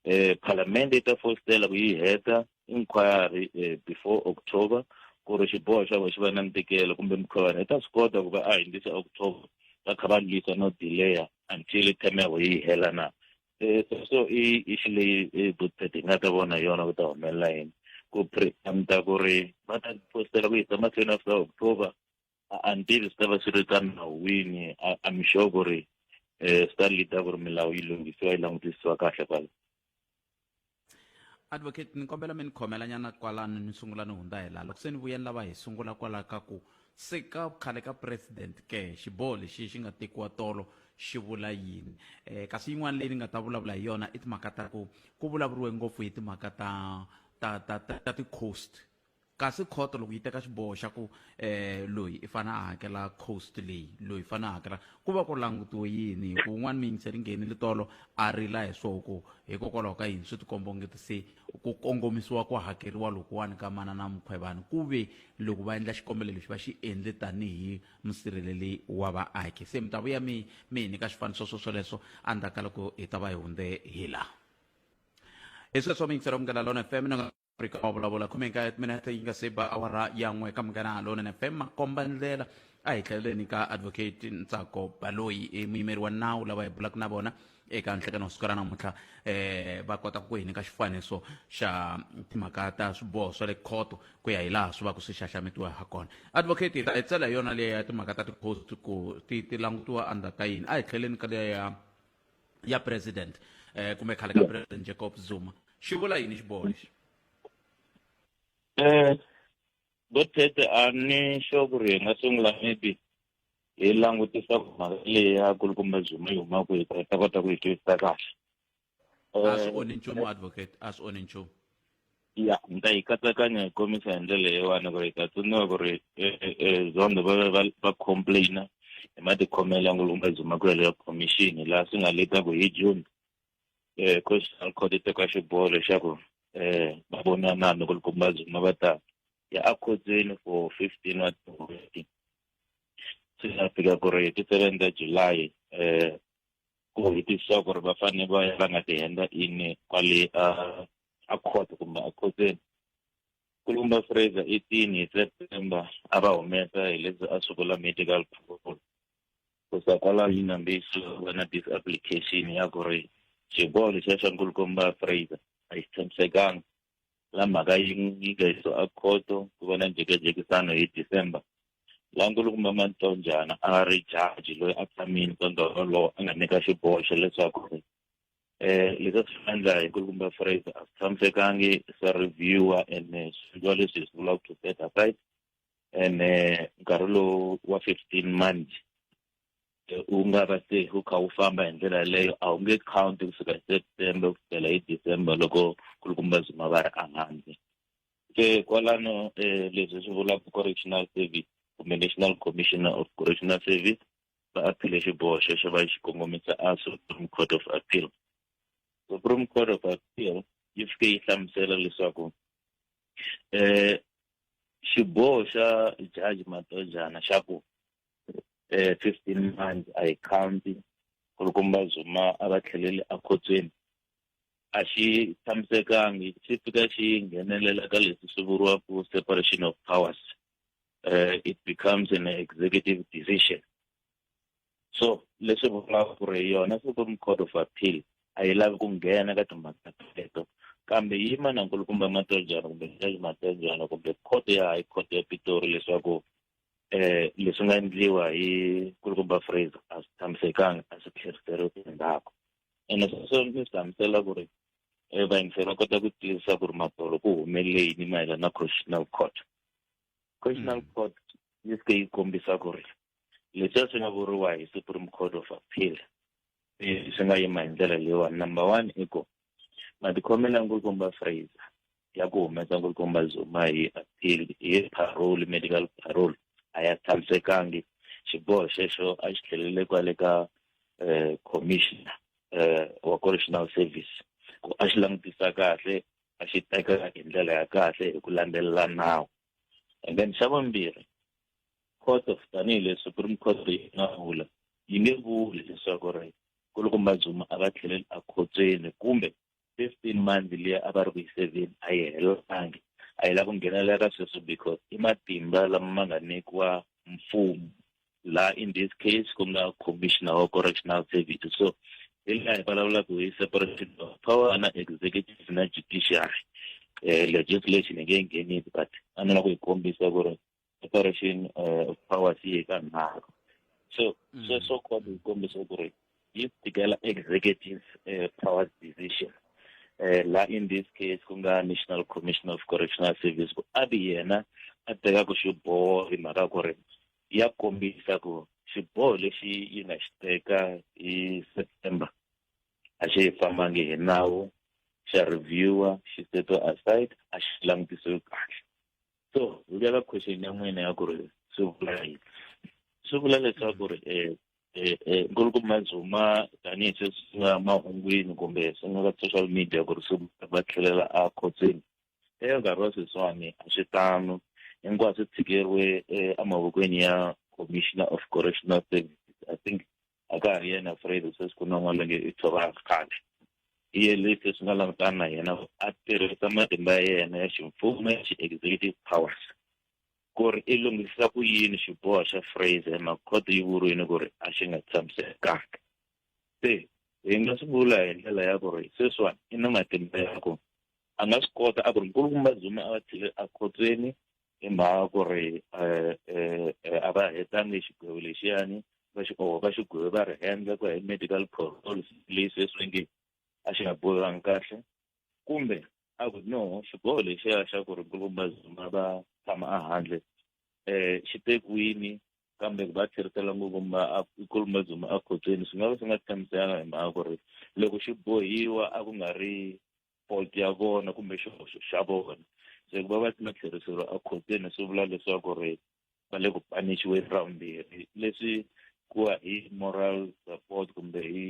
eh palamende yi ta fositela ku yi heta inquiry eh, before october ku ri xiboho xa vona xi va na ntikelo kumbe mikhovana yi ta swi kota ku va a hundzisa october va kha va lwisa no delaya until term ya vona yi hela na eh, so so i i xi leyi i good set hi nga ta vona hi yona ku ta humelela yini ku preemta ku ri va ta postela ku yisa mahlweni after october until swi ta va swi ri ka nawu wini i'm sure ku ri um swi ta leada ku ri milawu yi lunghisiwa yi langutisiwa kahle kwala advocate ni kombela mi ni khomela nyana kwalano ni sungula ni hundza hi laha loko se ni vuyeni lava hi sungula kwalaho ka ku se ka khale ka president ke xiboho lexi xi nga tekiwa tolo xi vula yini um kasi yin'wana leyi ni nga ta vulavula hi yona i timhaka ta ku ku vulavuriwe ngopfu hi timhaka ta ta ta ta ti-coast kasi khoto loko yi teka xiboho xa ku eh loyi i fana a hakela cost leyi loyi fana a hakela ku va ku langutiwe yini hi ku un'wana miyingiseri nghenile tolo a rila hi swoho ku hikokwalaho ka yini swi tikombongeti se ku kongomisiwa ku hakeriwa lokuwani ka mana na mukhwevani ku ve loko va endla xikombelo lexi va xi endle tanihi musirheleli wa vaaki se mi ta vuya mi mi hi nyika swifaniso swo swoleswo endzhaku ka loko hi ta va hi hundze hi laha hi sweswo miyingiseri ya mungalalono fm afrika wa vulavula khume nkaye timinete yi nga se ba awara ya n'we ka munghana halonene fm makomba ndlela a hi tlheleleni ka advocate ntsako baloyi i muyimeri wa nawu lava hi bulaka na vona eka nhlekani wa siku ra namuntlha eh va kota ku hi nyika xifaniso xa timhaka ta swiboho swa le khoto ku ya hi laha swi va ku swi xaxametiwa ha kona advocate hi ta hi tsela hi yona leyi ya timhaka ta tikhosi ku ti ti langutiwa under ka yini a hi tlheleni ka leya ya president eh kumbe khale ka president Jacob Zuma xi vula yini xiboho lexi eh Botete a ni xo ku ri hi nga sungula maybe hi langutisa ku mhaka leyi ya kulukumba Zuma yi huma kwihi ku hi ta kota ku yi twisisa kahle a swi onhi nchumu advocate a swi onhi nchumu ya ni ta yi katsakanya hi kombisa hi ndlela leyiwani ku ri ta tsundzuka ku ri e, e, e, zondo va va va complaina hi matikhomelo ya ngulumba zimakwelo ya commission laha swi nga leta ku hi june um constitutional court yi teka xiboho lexaku um va vonana loko likumba zuma va ta ya akhotsweni for fifteen wa tin'hweti swi nga fika ku ri hi ti-seven ta july um ku hitisiwa ku ri va fanele va ya va nga ti henda ini kwale a a court kumbe a khotseni kulumba fraser eighteen hi september a va humesa hi leswi a swi vula medical protocol kusa kwalaho yi nambiso va na disapplication ya ku ri xiboho lexiya xa nkulukomba fraser a yi tshamisekanga la mhaka yi yi nga yiso a khoto ku va na njhekajekisano hi december la nkulukumba mantonjana a ri jaji loyi a tshamini ntondoho lowo a nga nyika xiboho xa leswaku ri eh leswi swi endla hi ku kumba phrase a tshamisekangi swa reviewer and eh, swilo leswi hi swi vulaka to set aside and eh, nkarhi lowu wa 15 months eh, u nga va se u kha u famba hi ndlela yeleyo a wu nge count ku fika hi september ku fikela hi december loko ku ri kumba zuma va ri ehandle se kwalano um leswi swi vulaka correctional service kumbe national commissioner of correctional service va aphile xiboho xexo va xi kongomisa a supreme court of appeal supreme court of appeal yi fike yi hlamusela leswaku eh xiboho xa jaji matojana xa ku eh 15 months a yi county ku ri komba zuma a va tlheleli ekhotsweni a xi tshamisekangi xi fika xi nghenelela ka leswi swi vuriwaka separation of powers uh, it becomes an executive decision so leswi vulaka ku ri yona supreme court of appeal a yi lavi ku nghena ka timhaka teto kambe yi manankulu kumbe matojana kumbe jaji matojana kumbe court ya high court ya pitori leswaku um leswi nga endliwa hi kulukumba fraser a swi tshamisekanga a swi tlheriseriwi endzhaku ene sweswo ni swi hlamusela ku ri um vayingiseri va kota ku tiyisisa ku ri matolo ku humeleyini mayelana na constitutional court constitutional mm. court yi se yi kombisa ku ri leswi swi nga vuriwa hi supreme court of appeal eh, swi nga yima hi ndlela leyiwani number one i ku matikhomela nkulukumba fraser ya ku humesa nkulukumba zuma hi appeal hi parole medical parole a ya tshamisekangi xiboho xexo a xi tlhelele kwale ka um commissioner um wa correctional service ku a xi langutisa kahle a xi tekaka hi ndlela ya kahle hi ku landzelela nawu and then xa vumbirhi court of tanihileswi supreme court yi nga vula yi nge vuli leswaku ri nkulukumba zuma a va tlheleli ekhotsweni kumbe fifteen months leyi a va ri ku yi seveni a yi helelangi a yi lava ku nghenelela ka sweswo because i matimba lama ma nga nyikiwa mfumo la in this case ku nga commissioner wa correctional services so hi laha hi vulavulaka hi separation of power na executive na judiciary um legislation hi nge nghenini but a ni la ku hi kombisa ku ri separation eh, of powers yi hi ka nharhu so mm. sweswo kota hi kombisa ku ri um yi tikela executives eh, powers decision eh, la in this case ku nga national commission of correctional service ku a ri yena a tekaka xiboho hi mhaka ku ri ya kombisa ku xiboho lexi yi nga xi teka hi september a xi yi fambangi hi nawu xa reviewer xi seto aside a xi langutisiwi kahle so hi vuya ka question ya n'wina ya ku ri swi vula yini swi vula leswaku ri um eh, eh, nkulukumba mazuma tanihi sweswi swi nga mahungwini kumbe swi nga ka social media ku ri swi va tlhelela a khotsweni eka nkarhi wa sweswiwani a swi tano hinkwaswo swi tshikeriwe eh, emavokweni ya commissioner of correctional services i think a ka ha ri yena afraid sweswi ku na n'wana longe i tshovaka khale hi ye lexi leswi nga langutana na yena a tirhisa matimba ya yena ya ximfumo ya xi-executive powers ku ri i lunghisa ku yini xiboho xa Fraser hi mhaka khoto yi vuriwile ku ri a xi nga tshamisekanga se hi nga swi vula hi ndlela ya ku ri sweswiwani i na matimba ya ku a nga swi kota a ku ri nkulukumba zuma a va tshile a khotsweni hi mhaka ku ri eh, eh, eh, a va hetangi xigwevo lexiyani va xi oho va xigwevo va ri hendla ku ya hi medical protocol leyi sweswi nge a xi nga bohiwangi kahle kumbe a ku no xiboho lexiya xa ku ri nkulukumba zuma va tshama ehandle um xi tekiwini kambe ku va tlherisela ngopfumba nkulukumba zuma ekhotsweni swi nga va swi nga tshamisana hi mhaka ku ri loko xi bohiwa a ku nga ri fault ya vona kumbe xihoxo xa vona se ku va va ma tlheriseriwa ekhotsweni swi vula leswaku ri va le ku panixiweni ra vumbirhi leswi ku hi moral support kumbe hi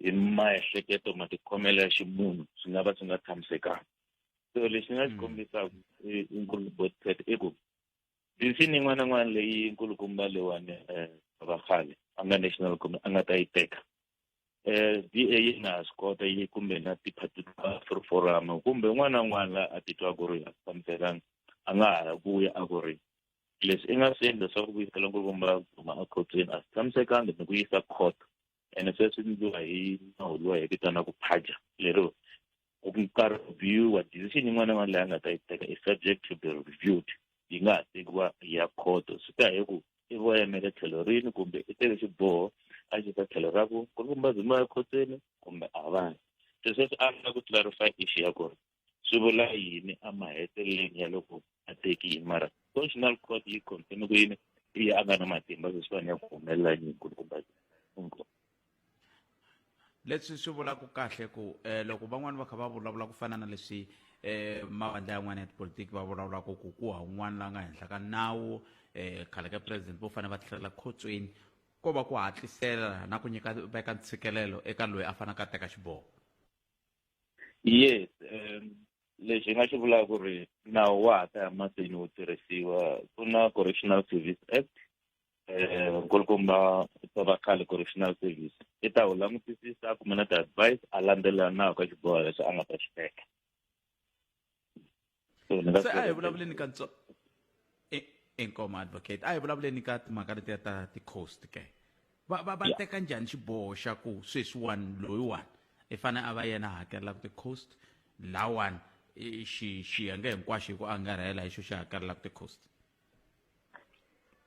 hi maehleketo matikhomelo ya ximunhu swi nga va swi nga tshamisekanga so lexi nga xi kombisaka nkulubotet i ku tinsimu yin'wana na yin'wana leyi nkulukumba lewani um va khale a nga national kumbe a nga ta yi teka um d a yi nga ha swi kota yi kumbe na tiphati ta free forum kumbe un'wana na un'wana la a titwa ku ri a tshamisekanga a nga ha vuya a ku ri leswi i nga swi endla swa ku vuyisela nkulukumba duma a khotsweni a swi tshamisekanga ni ku yisa court ene se swi endliwa hi nawu lowa hi vitanaka phaja lero ku ka reviewa decision yin'wana yin'wana leyi a nga ta yi teka i subject to be reviewed yi nga ha tekiwa ya khoto swi ta hi ku i vo yimele tlhelo rini kumbe i teke xiboho a xi ta tlhelo ra ku ku ri kumbazimu ya khoteni kumbe a va se sweswi a nga ku clarify issue ya kona swi vula yini emaheteleleni ya loko a tekiwe mara constitutional court yi confirme ku yini i ya a nga na matimba leswiwani ya ku humelela yini nkulukumba leswi swi vulaka kahle ku eh, loko van'wani va kha va vulavula ku fana na leswi eh mavandla yan'wana ya tipolitiki va vulavulaka ku ku ha un'wana la nga henhla ka nawu eh khale ka president vo fanele va tlhelela khotsweni ko va ku hatlisela na ku nyika veka ntshikelelo eka loyi a fanaka a teka xiboho yes um lexi hi nga xi vulaka ku ri nawu wa ha ta ya mahlweni wu tirhisiwa ku na correctional service act um nkulukumba tova khale correctional service i ta wu langutisisa a kume na ti-advice a landzelela nawu ka xiboho lexi a nga ta xi teka se a hi vulavuleni ka ntswa inkomo advocate a hi vulavuleni ka timhaka letiya ta ti-coast ke va va va teka njhani xiboho xa ku sweswiwani loyiwani i fanele a va yena hakelelaka ti-coast lawani xi xiyenge hinkwaxo hi ku angarhela hi xo xi hakelelaka ti-coast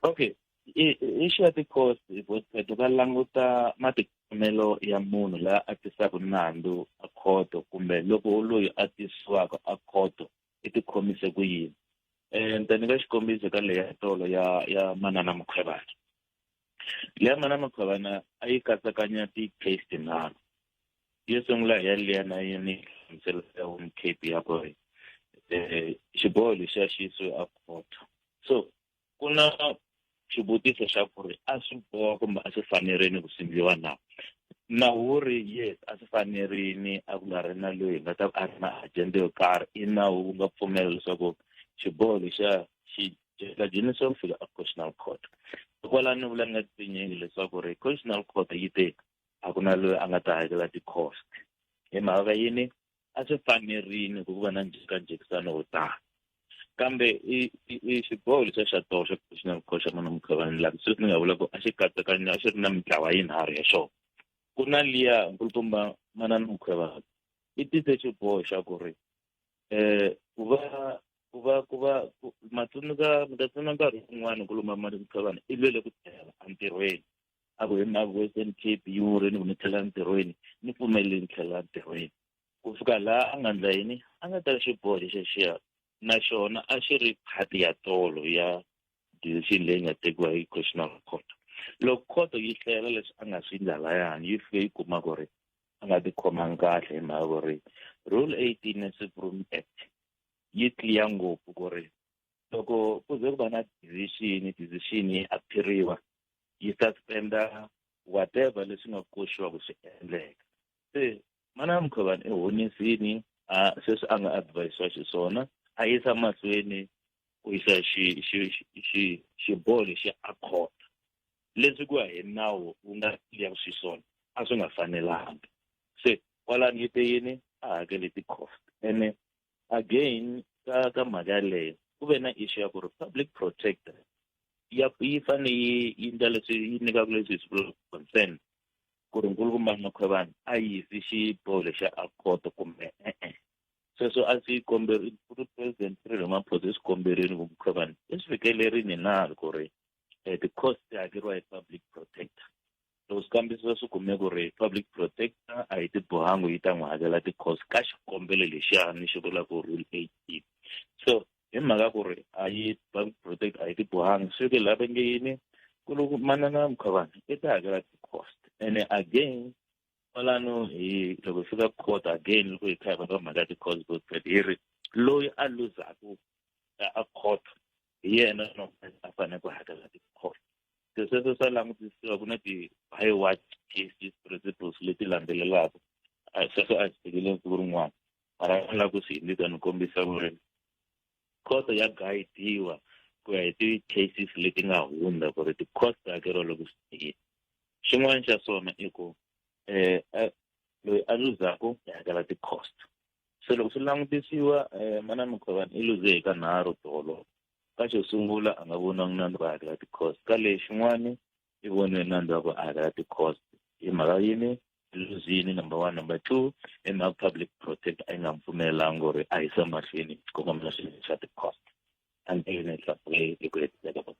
okay i i xiya tikhosi vosiphetho va languta matikhomelo ya munhu la a tisaka nandzu a khoto kumbe loko loyi a tisiwaka a khoto i tikhomise ku yini um ni ta nyika xikombiso ka leya tolo ya ya manana mukhwevana leya manana mukhwevana a yi katsakanya ti-case tinharhu yo sungula hi ya leya na yini hlamuselo ya home cape ya ku ri um xiboho lexiya xi yisiwe a khoto so ku na xivutiso xa ku ri a swi boha kumbe a swi fanerini ku sindliwa na nawu wo ri yes a swi fanerini a ku nga ri na loyi hi nga ta a ri na agenda yo karhi i nawu wu nga pfumela leswaku xiboho lexiya xi la jimisiwa ku fika a constitutional court hikwalaho ni vula ni nga tinyingi leswaku ri constitutional court yi te a ku na loyi a nga ta hakela ti-cost hi mhaka yini a swi fanerini ku va na njhekanjhekisano wo tano kambe i i xiboho lexa xa toho xa professional coach xa munhu mukhavani laha sweswi ni nga vula ku a xi katsakanyi a xi ri na mitlawa yinharhu ya xona ku na liya nkulukumba manana mukhavani i tise xiboho xa ku ri um ku va ku va ku va matsundzuka mi ta tsundzuka nkarhi wun'wana nkulukumba manana mukhavani i lwele ku tlhela entirhweni a ku hi mhaka ku eastern cape yi wurile ku ni tlhela ntirhweni ni pfumelele ni tlhela ntirhweni ku fika laha a nga ndla yini a nga teka xiboho xexexiya na xona a xi ri phati ya tolo ya decision leyi nga tekiwa hi constitutional court loko khoto yi hlayela leswi a nga swi ndla layani yi fike yi kuma ku ri a nga tikhomangi kahle hi mhaka ku ri rule eighteen ya supreme act yi clear ngopfu ku ri loko ku ze ku va na decision decision yi aphiriwa yi suspenda whatever leswi nga koxiwa ku swi endleka se mana mukhovani i honisini a sweswi a nga advisiwa xiswona a yisa mahlweni ku yisa xiboho lexi a khota leswi ku ya hi nawu wu nga ya xiswona a swi nga fanelanga se kwalani yi te yini a hakele ti-cost ene again ka ka mhaka yaleyo ku ve na issue ya ku ri public protector ya yi fane yi yi ndla leswi yi nyikaka leswi hi swi concern ku ri nkulukumba makhwevana a yisi xiboho lexa a khoto kumbe e-e sweswo a swi komberi ku ri president Cyril Ramaphosa i swi komberini ku mukhwevana i swi fikelerini na ku ri um ti-cost ti hakeriwa hi public protector loko swi kambisisa swi kume ku ri public protector a yi tibohangi yi ta n'wi hakela ti-cost ka xikombelo lexiya ni xi vula ku rule eighteen so hi mhaka ku ri a yi public protector a yi tibohangi swi ke laha va nge yini ku loko manana mukhavana i ta hakela ti-cost ene again kwalano hi loko hi fika court again loko hi kha hi va ka mhaka ya ti-cost both hi ri loyi a luzaku a court hi yena a fanele ku hakela ti-toll se sweswo swa langutisiwa ku na ti-by what cases principles leti landzelelaka sweswo a swi tekele siku rin'wana mara a lava ku swi hindisa ni kombisa ku ri khoto ya guidiwa ku ya hi ti-cases leti nga hundza ku ri ti-cost ta hakeriwa loko swi tekile xin'wana xa swona i ku um loyi a luzaka i hakela ti-cost se loko swi langutisiwa um manana mukhovani i luze hi ka nharhu tolo ka xo sungula a nga voniwangi nandza ku hakela ti-cost ka lexin'wani i voniwe nandza ku a hakela ti-cost hi mhaka yini luzini number one number two i mhaka public protect a yi nga mi pfumelelanga ku ri a yisa mahlweni xikongomelo xa ti-cost until next Saturday, the great day of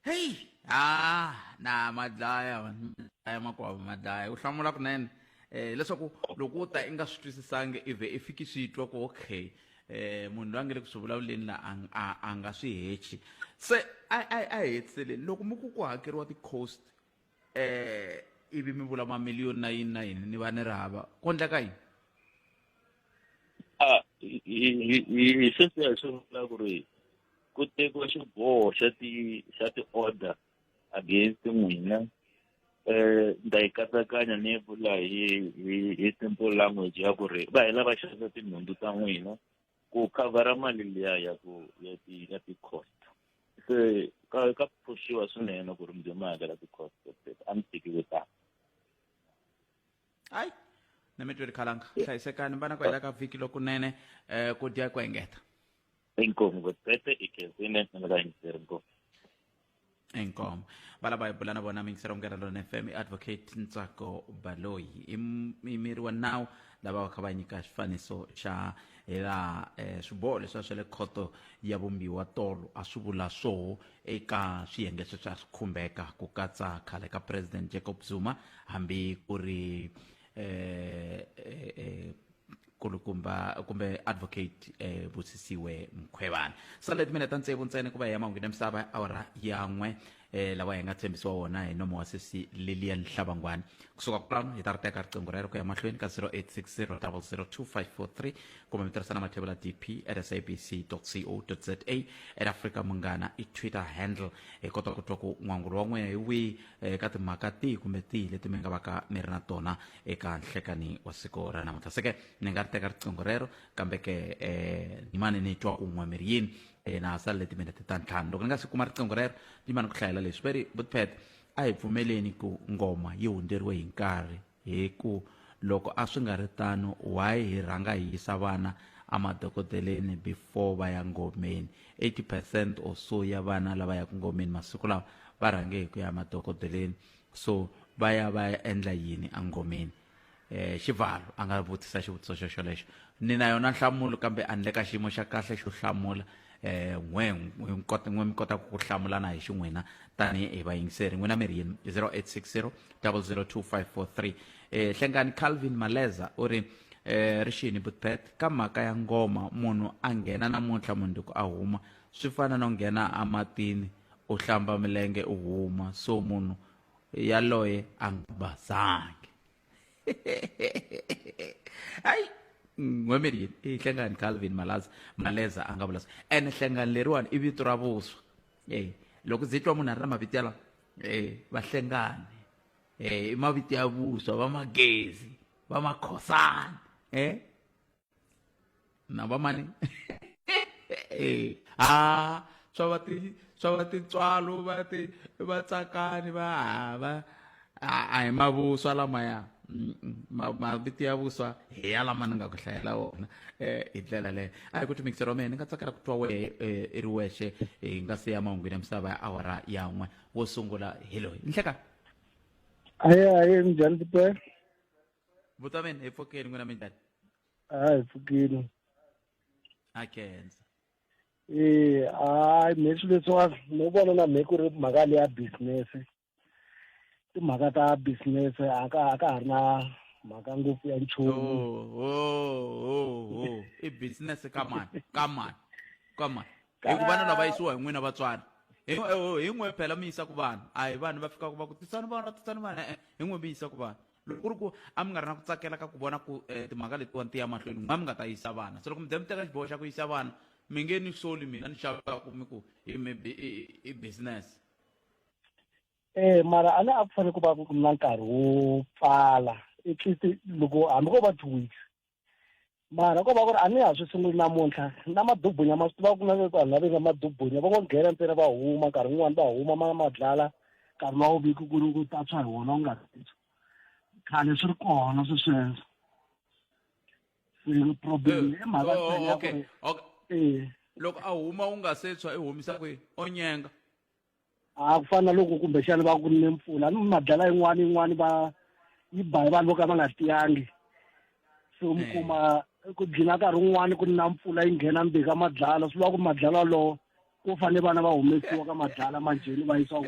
heyi ha na ma dlaya man, ma dlaya makwavo ma dlaya u hlamula kunene eh leswaku loko u ta i nga swi twisisangi i vhe i fiki swi twa ku okay eh munhu loyi a nge le ku swi vulavuleni la a ng- a- a nga swi hechi se a a a hetiseleni loko mi ku ku hakeriwa ti-cost eh ivi mi vula mamiliyoni na yini na yini ni va ni ri hava ku endla ka yini Ah, hi- hi- hi- hi- hi sweswiya hi swi vula ku ri ku tekiwa xiboho xa ti xa ti-order against n'wina um ni ta yi katsakanya ni yi vula hi hi hi simple language ya ku ri va hela va xavisa tinhundzu ta n'wina ku khavhara mali liya ya ku ya ti ya ti cost se ka ka phushiwa swinene ku ri mudyo ma hakela ti cost a mi tiki ku tani hayi na mi tweri khalanga hlayisekani vana ku hela ka vhiki lokunene um ku dya ku engeta inkomu ku tete ikenzine ni nga yingiseri ngopfu inkomo valava hi bula na vona mingisera munghana lona fm i advocate ntsako baloyi i m- i miri wa nawu lava va kha va nyika xifaniso xa hi laha eh, swiboho leswi a swa le khoto ya vumbiwa tolo a swi vula swoho eka swiyenge sweswi a swi khumbeka ku katsa khale ka president jacob zuma hambi ku ri eh, eh, eh, kulukumba kumbe advocate eh, busisiwe mkhwevana sale timinete tsevu ntsena ku va hi ya mahungwini ya misava ya awara ya n'we eh, lawa hi nga tshembisiwa wona hi nomo wa sesi lilian hlavangwani kusuka kwalano hi ta ri teka riqingho rero ku ya mahlweni ka 0860 002543 kumbe mi tirhisa na mathevula dp at sabc co za at africa munghana i twitter handle hi kota ku twa ku n'wangulo wa n'wina hi wihi eh, ka timhaka tihi kumbe tihi leti mi nga va ka mi ri na tona eka nhlekani wa siku ra namuntlha se ke ni nga ri teka riqingho rero kambe ke um ni mane ni twa kun'we mi ri yini um na ha salele timinete ta ntlhanu loko ni nga si kuma riqingho rero ni mane ku hlayela leswi va ri butpet a hi pfumeleni ku ngoma yi hundzeriwe hi nkarhi hi ku loko a swi nga ri tano why hi rhanga hi yisa vana emadokodeleni before va ya ngomeni 80 percent or so ya vana lava yaka ngomeni masiku lawa va rhange hi ku ya emadokodeleni so va ya va ya endla yini engomeni um xivalo a nga vutisa xivutiso xo xolexo ni na yona nhlamulo kambe a ni le ka xiyimo xa kahle xo hlamula um n'we n'we mi kotaka ku hlamulana hi xin'wina tanihi hi vayingiseri n'wina mi ri yini 0860 002543 um hlengani calvin maleza u ri eh ri xini butpet ka mhaka ya ngoma munhu a nghena namuntlha mundzuku a huma swi fana no nghena ematini u hlamba milenge u huma so munhu yaloye a nga basangi hayi n'wemeri yini i hlengani calvin malaza maleza a nga vula so ene hlengani leriwani i vito ra vuswa e loko ndzi twa munhu a ri na mavito yalawa e vahlengani e i mavito ya vuswa va magezi va makhosana e na va mani ha swa va ti swa va tintswalo va ti va tsakani va hava a hi mavuswa lamaya mavito ya vuswa hi ya lama ni nga ku hlayela wona um hi ndlela leyo a hi ku timikisela wa mina ni nga tsakela ku twa wehe i ri wexe hi nga se ya mahungwini ya misava ya awara ya n'we wo sungula hi loyi nhleka aye aye minjhani tipela Butaveni hi pfukile n'wina minjhani? Ah hi pfukile. Ha khensa. Eh hayi me swilo leswiwani no vona na me ku ri mhaka leya business. Timhaka ta business a ka a ka ha ri na mhaka ngopfu ya nchumu. Oh, oh, oh, oh. I business ka mani ka mani ka mani. Hi ku vana lava yisiwa hi n'wina vatswari. Hi n'we phela mi yisa ku vanhu a hi vanhu va fikaka va ku tisani vana tisani vana hi n'we mi yisa ku vanhu. loko ku ri ku a mi nga ri na ku tsakela ka ku vona ku um timhaka letiwani ti ya mahlweni n'wa mi nga ta yisa vana se loko mi ze mi teka xiboho xa ku yisa vana mi nge ni soli mina ni xavaka ku mi ku i business eh mara a ne a ku fanele ku va na nkarhi wo pfala at least loko hambi ko va two weeks mara ko va ku ri a ni ha swi sunguli namuntlha na madubunya ma swi tiva ku na vanhu lava nga madubunya va ngo nghena ntsena va huma nkarhi wun'wani va huma ma madlala nkarhi wa vuviki ku ri ku tatshwa hi wona u nga khale swi ri kona swi sweswo se problem eh, i mhaka oh, ntsena ya ku ri eh. loko a huma u nga se tshwa i humisa kwihi o nyenga a ku fana na loko kumbexana va ku ni mpfula ni madlala yin'wana yin'wana va yi ba hi vanhu vo ka va nga tiyangi so mi hmm. kuma ku dlina nkarhi wun'wana ku na mpfula yi nghena mbi ka madlala swi vula ku madlala walowo ku fanele vana va humesiwa ka madlala manjheni va yisiwa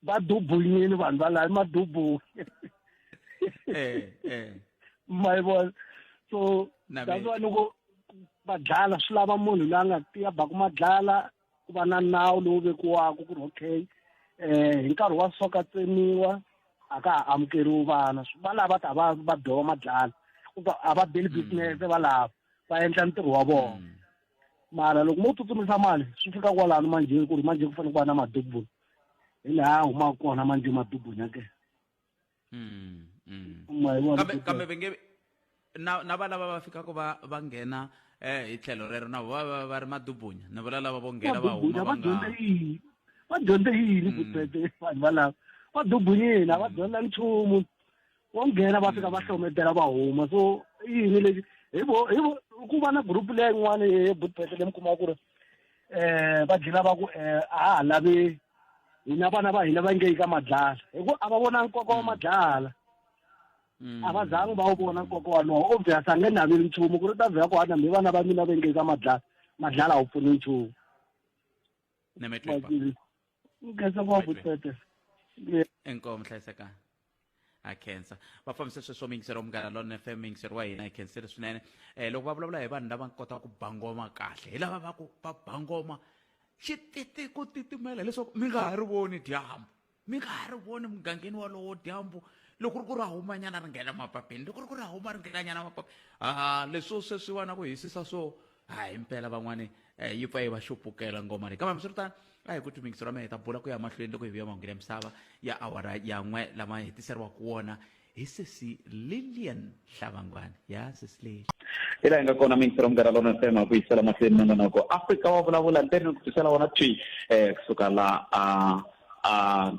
va dubunyini vanhu va laha madubu eh, eh. ma yi vona so that's why loko madlala swi lava munhu loyi a nga tiya baku madlala ku va na nawu lowu vekiwaka ku ri okay um hi nkarhi wa soka tsemiwa a ka ha amukeriwi vana valava ta va va dova madlala a va beli mm. business valava va endla ntirho wa vona mm. mara loko mo tsutsumisa mali swi fika kwalano manjhe ku ri manjhe ku fanele ku va na madubuni hi laha humaka kona manjhe madubuni ya ke Mm, mm. ma yi vona kambe ku- kambe va nge na na valava va fikaka va va nghena eh hi tlhelo rero na va va va ri madubunya ni vula lava vo nghena va huma va va dyondza nga yini va dyondza yini vukreste vanhu valava va dubunyini a va dyondza nchumu vo nghena va fika va hlometela va huma so i yini lexi hi vo hi vo ku va na group leya yin'wana ye vukreste leyi mi kumaka ku ri eh va gila va ku eh a ha lavi hina vana va hina va nge yi ka madlala hi ku a va vona nkoka wa madlala mm. a va zangi va wu vona nkoka walowo obvious a nge naveli nchumu ku ri ta vhela ku hana mi vana va mina va nge yi ka madlala madlala a wu pfuni nchumu ngeze ngopfu tete inkomo hlayisekani a khensa va fambise sweswo miyingiseri wa munghana lona fm miyingiseri wa hina hi khensile swinene um loko va vulavula hi vanhu lava kota ku bangoma kahle hi lava va ku va bangoma xi titi ku titimela leswaku mi nga ha ri voni dyambu mi nga ha ri voni mugangeni walowo dyambu loko ri ku ra humanyana ri nghena mapapeni loko ri ku ra huma ri nghenanyana mapapeni a leswo sweswi va na ku hisisa swo ha hi mpela van'wani um yi pfa yi va xupukela ngoma leyi kambe hambiswiritano a hi ku timingisi ra mehe ta bula ku ya mahlweni loko hi vuya mahungu ya misava ya awara yan'we lama hetiseriwaka wona hi sesi lilian hlavangwana ya sesi leli hi laha hi nga kona mingisi ra munghana lona fm a ku yisela mahlweni na nonoko afrika wa vulavula ndzeni ni ku tisela wona twi um kusuka la a a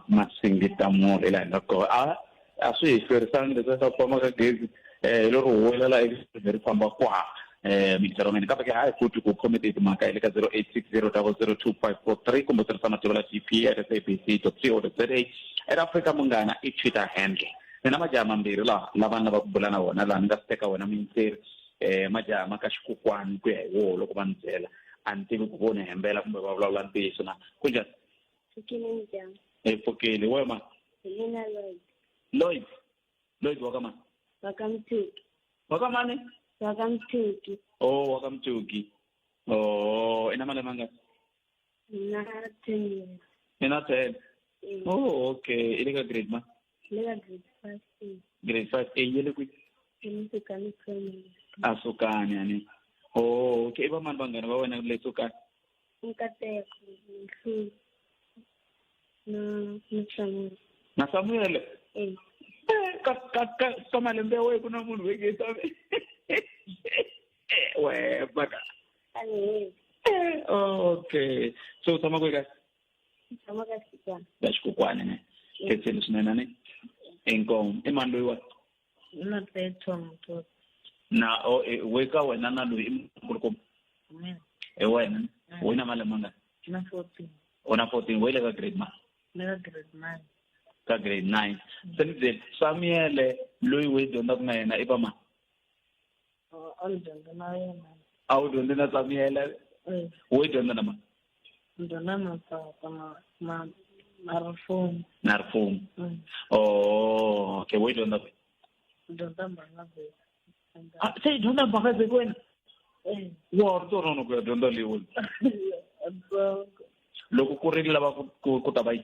masingita molo hi laha hi nga kona a swi hi hlwerisanga leswi swa ku famba ka gezi um hi lo ri huwelela ekusini ri famba kwaha um mintirhweni kambe ke hayi futhi ku khomete timhaka hi le ka zero eight six zero double zero two five four three kumbe tirhisa matimba la g p at s a b c dot c o dot z a era afrika munghana i twitter handle ni na majaha mambirhi laha lava ni lava ku bula na vona laha ni nga swi teka wena muyintseri um majaha ma ka xikokwani ku ya hi woho loko va ni byela a ni tivi ku vo ni hembela kumbe va vulavula ntiyiso na ku njhani Pfukile njhani? Hi pfukile. Wehe mani? Hi mina Lloyd. Lloyd? Lloyd wa ka mani? Wa ka Mthuki. Wa ka mani? Wa ka Mthuki. Oh, wa ka Mthuki. Oh, i na malembe mangani? Na ten years. I na ten? Mm. Oh, okay. I le ka grade mani? I le ka grade five A. Grade five A yi le kwihi? I le Sukani Primary. A Sukani, a ni. Oh, okay. I vamani vanghana va wena le Sukani? nkateko nhlungu na na samuel na samuel eh. eh, ka ka ka ka malembe ya wena ku na munhu veke samuel eh, we baka okay so u tshama kwe ka tshama ka xikukwana ya xikukwana ne khetseni swinene ne inkomu i mani loyiwani hi na petro mutoti na o e, we ka wena na loyi i mukulukumba mina hi wena Mm. u na malembe mangani na fourteen u na fourteen we le ka grade ma ni ka grade nine ka grade nine se ni byeli samuyele loyi we dyondzaka na yena i va mani a ni dyondza na yena a wu dyondzi na samiyela Eh, wo yi dyondza na mani ni dyondza na tata ma ma ma rifumo na rifumo Mm. oh okay wo yi dyondza kwihi ni dyondza mbangabheka Ah, se yi dyondza mbhakazeki wena Eh, wa ri torono ku ya dyondza leyi wena so loko ku ri lava ku- ku ku ta va yi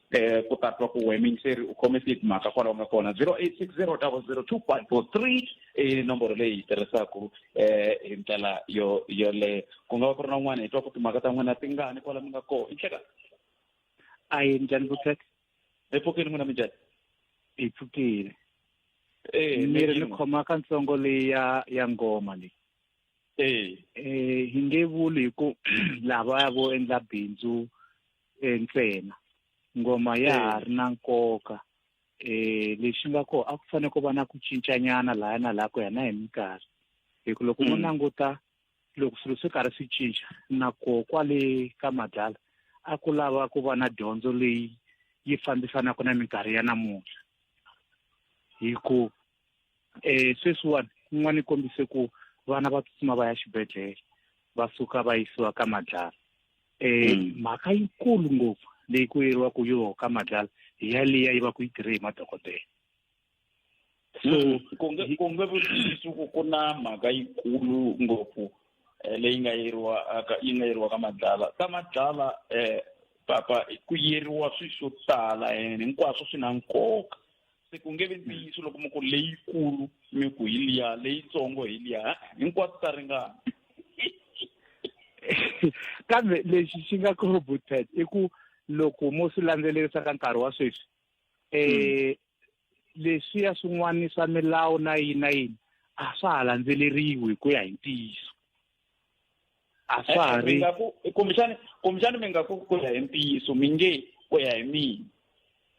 eh ku ta twa ku we minceri u khome ti mhaka kwalaho nga kona 0860002543 i nomboro leyi yi tirhisaku eh hi ndlela yo yoleyo ku nga va ku ri na un'wana hi twa ku timhaka ta n'wina ti ngani kwala mi nga koho i nhleka a yi njhani vutleka hi pfukile n'wina mi njhani hi pfukile eh mi ri ni khoma ka ntsongo leyi ya ya ngoma leyi eh eh hi nge vuli hi ku lava ya vo endla bindzu eh, ntsena ngoma ya ha ri na nkoka um lexi nga kona a ku fanele ku va na ku cincanyana lahaya na laha ku ya na hi minkarhi hi ku loko mo mm. languta loko swilo swi karhi swi cinca na ko kwale ka madlala a ku lava ku va na dyondzo leyi yi fambisanaka na minkarhi ya namuntlha hi ku e sweswiwani n'wana i kombise ku vana va tsutsuma va ya xibedhlele va suka va yisiwa ka madlala um mhaka yikulu ngopfu leyi ku yeriwaku yoho ka madlala hi yaliya yi va ku yi tirhe hi madokodela so mm. ku nge ku nge vutisi ku ku na mhaka yikulu ngopfu eh, leyi nga yeriwa aka yi nga yeriwa ka madlala ka madlala um papa ku yeriwa swilo swo tala and hinkwaswo swi na nkoka se ku nge vi ntiyiso loko mi ku leyikulu mi ku hi liya leyitsongo hi liya hinkwato ta ringana kambe lexi xi nga corroboted i ku loko mo swi landzelerisa ka nkarhi wa sweswi um hmm. leswiya swin'wana swa milawu na yini na yini a swa ha landzeleriwi hi ku ya hi ntiyiso a swa ha ri kumbexani kumbexani mi nga ku ku ya hi ntiyiso mi nge ku ya hi mina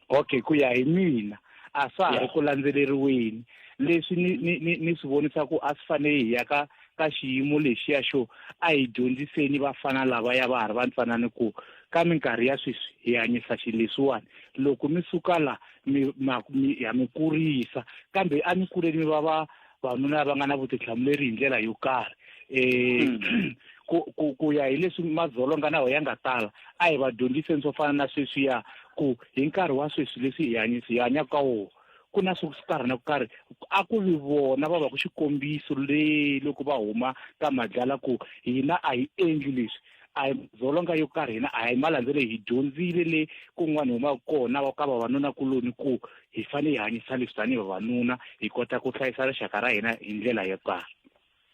okay ku ya hi mina a swa ha ri ku landzeleriweni leswi ni ni ni ni swi vonisa ku a swi fanele hi ya ka ka xiyimo lexiya xo a hi dyondziseni vafana lava ya va ha ri vantsanani ku ka minkarhi ya sweswi hi hanyisa xi leswiwani loko mi suka la mi ma mi ha mi kurisa kambe a mi kuleni mi va va vanhu lava nga na vutihlamuleri hi ndlela yo karhi um ku ku ku ya hi leswi madzolonga nawo ya nga tala a hi va dyondziseni swo fana na sweswiya ku hi nkarhi wa sweswi leswi hi hanyisi hi hanyaka ka wona ku na swo karhi na ku karhi a ku ri vona va va ku xikombiso le loko va huma ka madlala ku hina a hi endli leswi a hi dzolonga yo karhi hina a hi malandzelo hi dyondzile le kun'wana huma kona wa ka vavanuna kuloni ku hi fanele hi hanyisa leswi tanihi vavanuna hi kota ku hlayisa rixaka ra hina hi ndlela yo karhi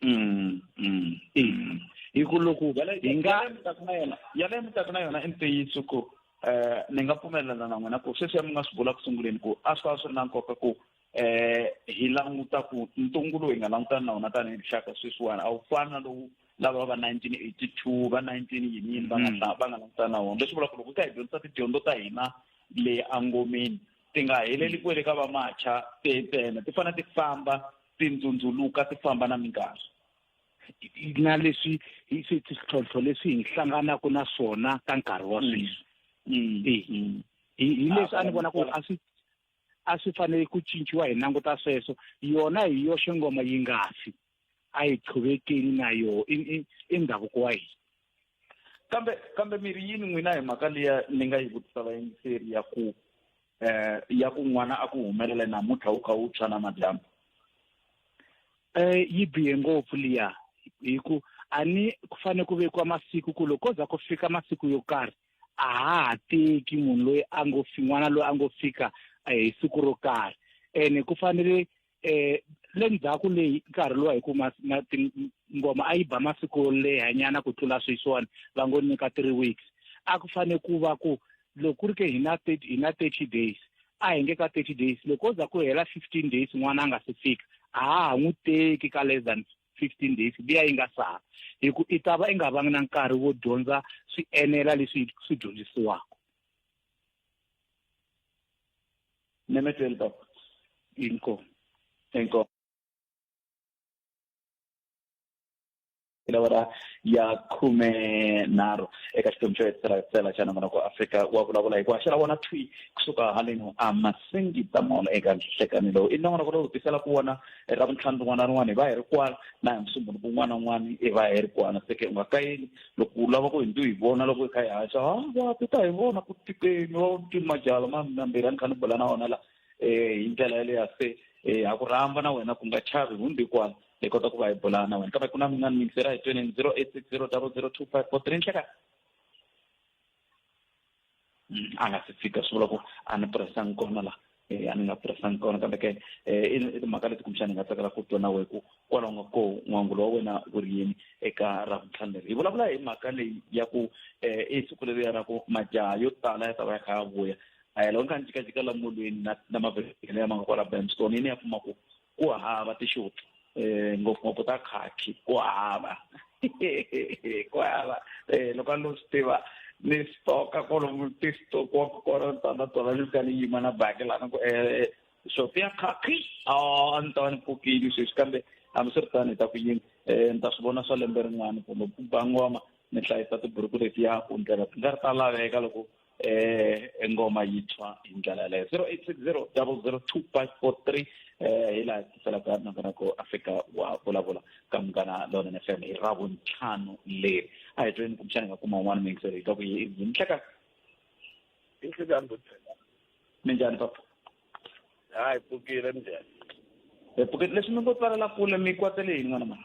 mm, mm, mm. hi ku loko hi nga yaleyo mi taku na yona i ntiyiso ku um ni nga pfumelelana na n'wina ku sweswiya mi nga swi vula ku sunguleni ku a swi ta va swi ri na nkoka ku eh hi languta ku ntungu lowu hi nga langutana na wona tanihi rixaka sweswiwani a wu fani na lowu lava va 1982 va 19 yiniyini va nga mm. va nga langutana na wona leswi vula ku loko hi kha hi dyondzisa tidyondzo ta hina le angomeni ti nga heleli kwele ka vamacha tena ti fanele ti famba ti ndzundzuluka ti famba na minkarhi na leswi hi swi tlhontlho leswi hi hlanganaka na swona ka nkarhi wa mm. sweswi mm. hi leswi a ni vona ku a swi a swi fanele ku cinciwa hi languta sweswo yona hi yoxe ngoma yi nga fi a yi qhuvekeni na yoho i ndhavuko wa hina kambe kambe mi ri yini n'wina hi mhaka liya ni nga yi vutisa vayingiseri ya ku um ya ku n'wana a ku humelela namuntlha wu kha wu tshwa na madyambu um yi bihe ngopfu liya hi ku a ni ku fanele ku vekiwa masiku ku loko ko za ku fika masiku yo karhi a ha ha teki munhu loyi a ngo fi n'wana loyi a ngo fika eh, hi siku ro karhi ene ku fanele um le ndzhaku leyi nkarhi lowa hi ku ngoma a yi ba masiku yo lehanyana ku tlula sweswiwani va ngo nyika three weeks a ku fanele ku va ku loko ku ri ke hi na hi na thirty days a hi nge ka thirty days loko o za ku hela fifteen days n'wana a nga si fika a ha ha n'wi teki ka less than 15 days liya yi nga sala hi ku i ta va i nga vangi na nkarhi wo dyondza swi enela leswi swi dyondzisiwaka nemeteli baba inkomo inkomo lawara ya khume nharhu eka xiphemu xo hetisela tsela xa nongonoko wa afrika wa vulavula hikuva xi ra vona twi kusuka haleni a masingi tamolo eka nhlekanelo i nongonoko lowu tisela ku vona hi ra vuntlhanu rin'wana na rin'wana hi va hi ri kwana na hi musumbunuku un'wana na un'wana hi va hi ri kwana seke u nga kayeli loko u lava ku hi ndu hi vona loko hi kha hi haxa ha va ti ta hi vona ku tikeni va ti majala mambirhi a ni kha ni bula na wona la um hi ndlela yaleya se um ha ku rhamba na wena ku nga chavi hundzi kwana hi kota ku va hi bula na wena kambe ku na mina mintsi ra hi twenini zero eight six zero double zero two five four three nhleka mm, a nga si fika swi vula ku a ni pressanga kona la eh, a ni nga pressanga kona kambe ke eh, i timhaka leti kumbexana hi nga tsakela ku twa na wehe ku kwalaho nga ko n'wangulo wa wena wu ri yini eka ra vuntlhanu leri hi vulavula hi mhaka leyi ya ku um i siku leriya ra ku majaha yo tala ya ta va ya kha ya vuya a hi loko ni kha ni jikajika la molweni na na mavhengele lama nga kwala bamstone yi ni ya kuma ku ku hava tixopi um ngopfungopfu ta khakhi ku hava ku hava um loko a no swi tiva ni stoka kolomu ti stokiwa ku kona ni ta na tona ni fika ni yima na baki lana ku um xopi ya khakhi a ni ta va ni pfukile sweswi kambe hambi swi ri tani hi ta ku yini um ni ta swi vona swa lembe rin'wana kumbe ku bangoma ni hlayisa tiburuku letiya ku ndlela ti nga ri ta laveka loko eh engoma yi tshwa hi ndlela leyo 0860 002543 eh hi laha tiselaka nakona ku a fika wa vulavula ka munghana lonene f m hi ra vuntlhanu leri a hi tweni kumbexana hi nga kuma un'wana muyingiseri hi ka ku yi nhleka inhlekani bothela minjhani papa hayi pfukile minjhani hi pfukile leswi mi ngo tsalela kule mi kwatele yini n'wana mara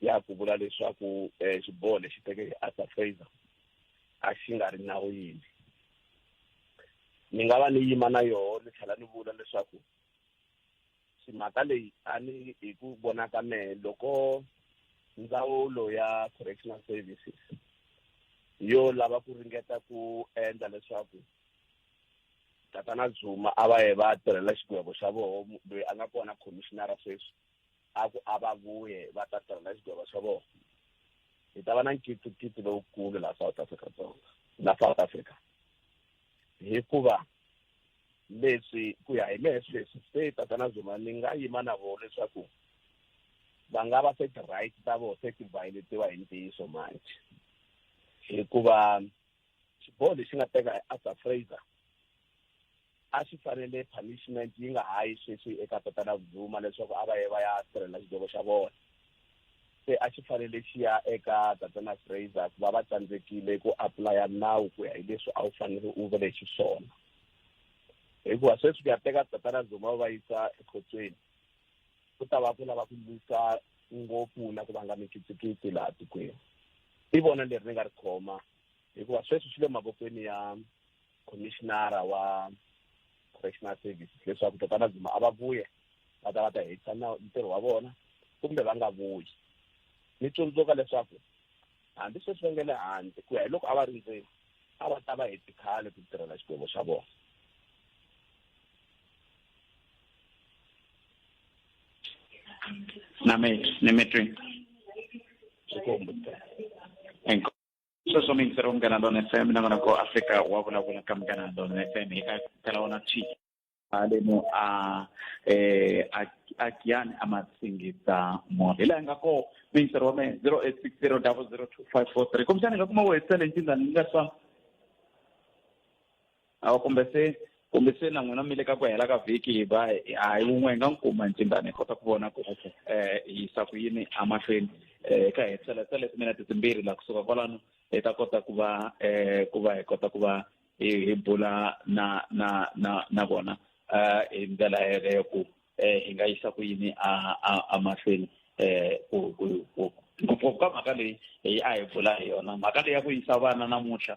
ya ku vula leswaku eh, xiboho lexi teke hi arthur fraser a xi nga ri nawini ni nga va ni yima na yoho ni tlhela ni vula leswaku mhaka leyi a ni hi ku vona ka mehe loko ndzawulo ya correctional services yo lava ku ringeta ku endla leswaku tatana zuma a va ye va tirhela xigwebo xa voho loyi a nga kona commissionara sweswi a ku a va vuye va ta tirha na xigwava xa vona hi ta va na nkitsikitsi lowukulu laha south africa dzonga la south africa hikuva leswi ku ya hi mehe sweswi se tatana zuma ni nga yima na vona leswaku va nga va se ti-right ta vona se ti violetiwa hi ntiyiso manje hikuva xiboho lexi nga teka arthur fraser a swi fanele punishment yi nga ha yi sweswi eka tatana vuduma leswaku a va ye va ya sirhelela xidyovo xa vona se a xi fanele xi ya eka tatana fraser ku va va tsandzekile ku aplaya nawu ku ya hi leswi a wu fanele u vele xiswona hikuva sweswi ku ya teka tatana zuma va yisa ekhotsweni ku ta va ku lava ku lwisa ngopfu na ku vanga mikitsikitsi laha tikweni i vona leri ni nga ri khoma hikuva sweswi swi le mavokweni ya commissionara wa correctional services leswaku tatana dzuma a va vuye va ta va ta hetisa na ntirho wa vona kumbe va nga vuyi ni tsundzuka leswaku hambi sweswi va nge le handle ku ya hi loko a va ri ndzeni a va ta va heti khale ku tirhela xikwembu xa vona na me ni me twi xikwembu sweswo mintseru munghana lona f m na n'wana ko afrika wa vulavula ka munghana lona f m hi ka tala wona t haleno a eh a a kiyani a ma singisa munhu hi laha nga ko mintseru wa mehe zero eight six zero double zero two five four three kumbexana hi nga kuma wo hetisa leyi nkinga ni nga swa awa kumbe se kumbe se na n'wina mi le ka ku hela ka vhiki hi va hayi wun'we hi nga n'wi kuma ntsindani hi kota ku vona ku um hi yisa ku yini emahlweni um hi kha hi tselesa leti mina titimbirhi laha kusuka kwalano hi ta kota ku va um ku va hi kota ku va hi hi bula na na na na vona um hi ndlela yeleyo ku um hi nga yisa ku yini emahlweni um ku ngopfungopfu ka mhaka leyi hi a hi bula hi yona mhaka leyi ya ku yisa vana namuntlha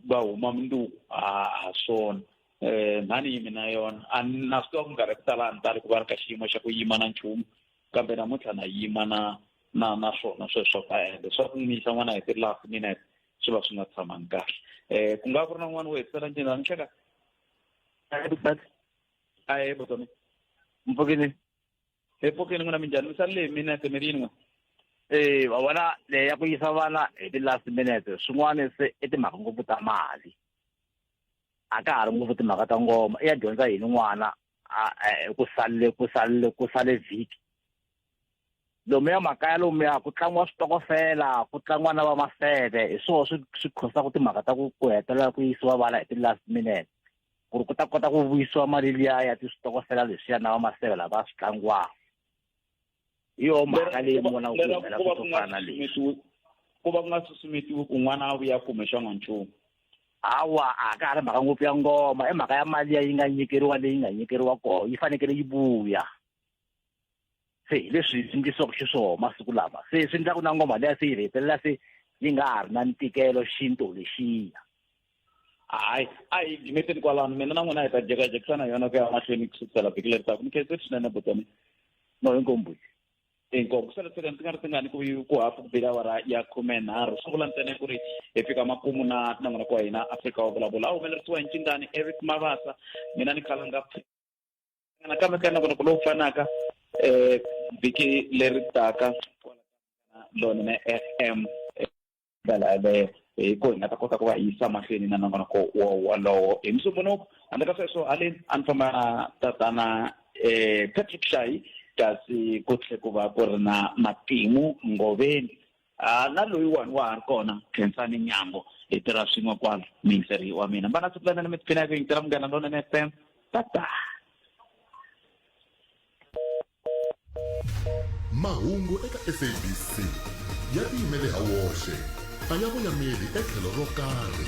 va huma munduku ha ha swona um mhani yimi na yona a ni na swi tiva ku minkarhi ya ku tala a ni tali ku va ri ka xiyimo xa ku yima na nchumu kambe namuntlha na yima na na na swona sweswo ka ende swa ku n'wi yisa n'wana hi ti-last minute swi va swi nga tshamangi kahle um ku nga ku ri na n'wana wo hetisela njeni a ni hleka a ye botone mpfukini epokheni n'wina minjhani misali leyi minete mi ri yin'we e wa vona leyi ya ku yisa vana hi ti-last minute swin'wana se i timhaka ngopfu ta mali a ka ha ri ngopfu timhaka ta ngoma i ya dyondza yini n'wana e, ku salele ku salele ku sale vhiki lomuya makaya lomuya ku tlangiwa switokofela ku tlangiwa na va maseve hi swona swi swi khosaka timhaka ta ku ku hetelela ku yisiwa vana hi ti-last minute ku ri ku ta kota ku vuyisiwa mali liya ya tiswitokofela leswiya na vamaseve lava va swi tlangiwaka hi yoho mhaka leyi mona ku humelela ku to fana leswi ku va ku nga susumetiwi ku n'wana a vuya kume xanga nchumu hawa a ka ha ri mhaka ngopfu ya ngoma i mhaka ya mali ya yi nga nyikeriwa leyi nga nyikeriwa koho yi fanekele yi vuya se hi leswi endlisiwaka xiswona masiku lama se swi endlaku na ngoma leya se yi hetelela se yi nga ha ri na ntikelo xinto lexiya hayi a hi jimeteni kwalano mina na n'wina hi ta jekajekisana yona ku ya mahlweni ku sukisela vhiki leri taku ni khetse swinene botani no hinkombuti inkomu ku sele tseka ndzi nga ri tingani ku ku hafu ku bela awara ya khume nharhu swi vula ntsena ku ri hi fika makumu na tinangana kwa hina afrika wa vulavula a humelerisiwa hi ncingani eric mavasa mina ni khala nga nakambe ka nako loko lowu fanaka um vhiki leri taka lona na f m ndlela yaleyo hi ko hi nga ta kota ku va yisa mahlweni na nongonoko wolowo hi musumbunuko handle ka sweswo haleni a ni famba na tatana um patrick shayi kasi ku tlhe ku va ku ri na matimu ngoveni Ah, na loyiwani wa ha ri kona khensani nyambo hi tirha swin'we kwalo miyingiseri wa mina mbana siku lana ni mi tiphina hi ku yingisela munghana lonene f m tata mahungu eka sabc ya tiyimele ha woxe a ya voyameli etlhelo ro karhi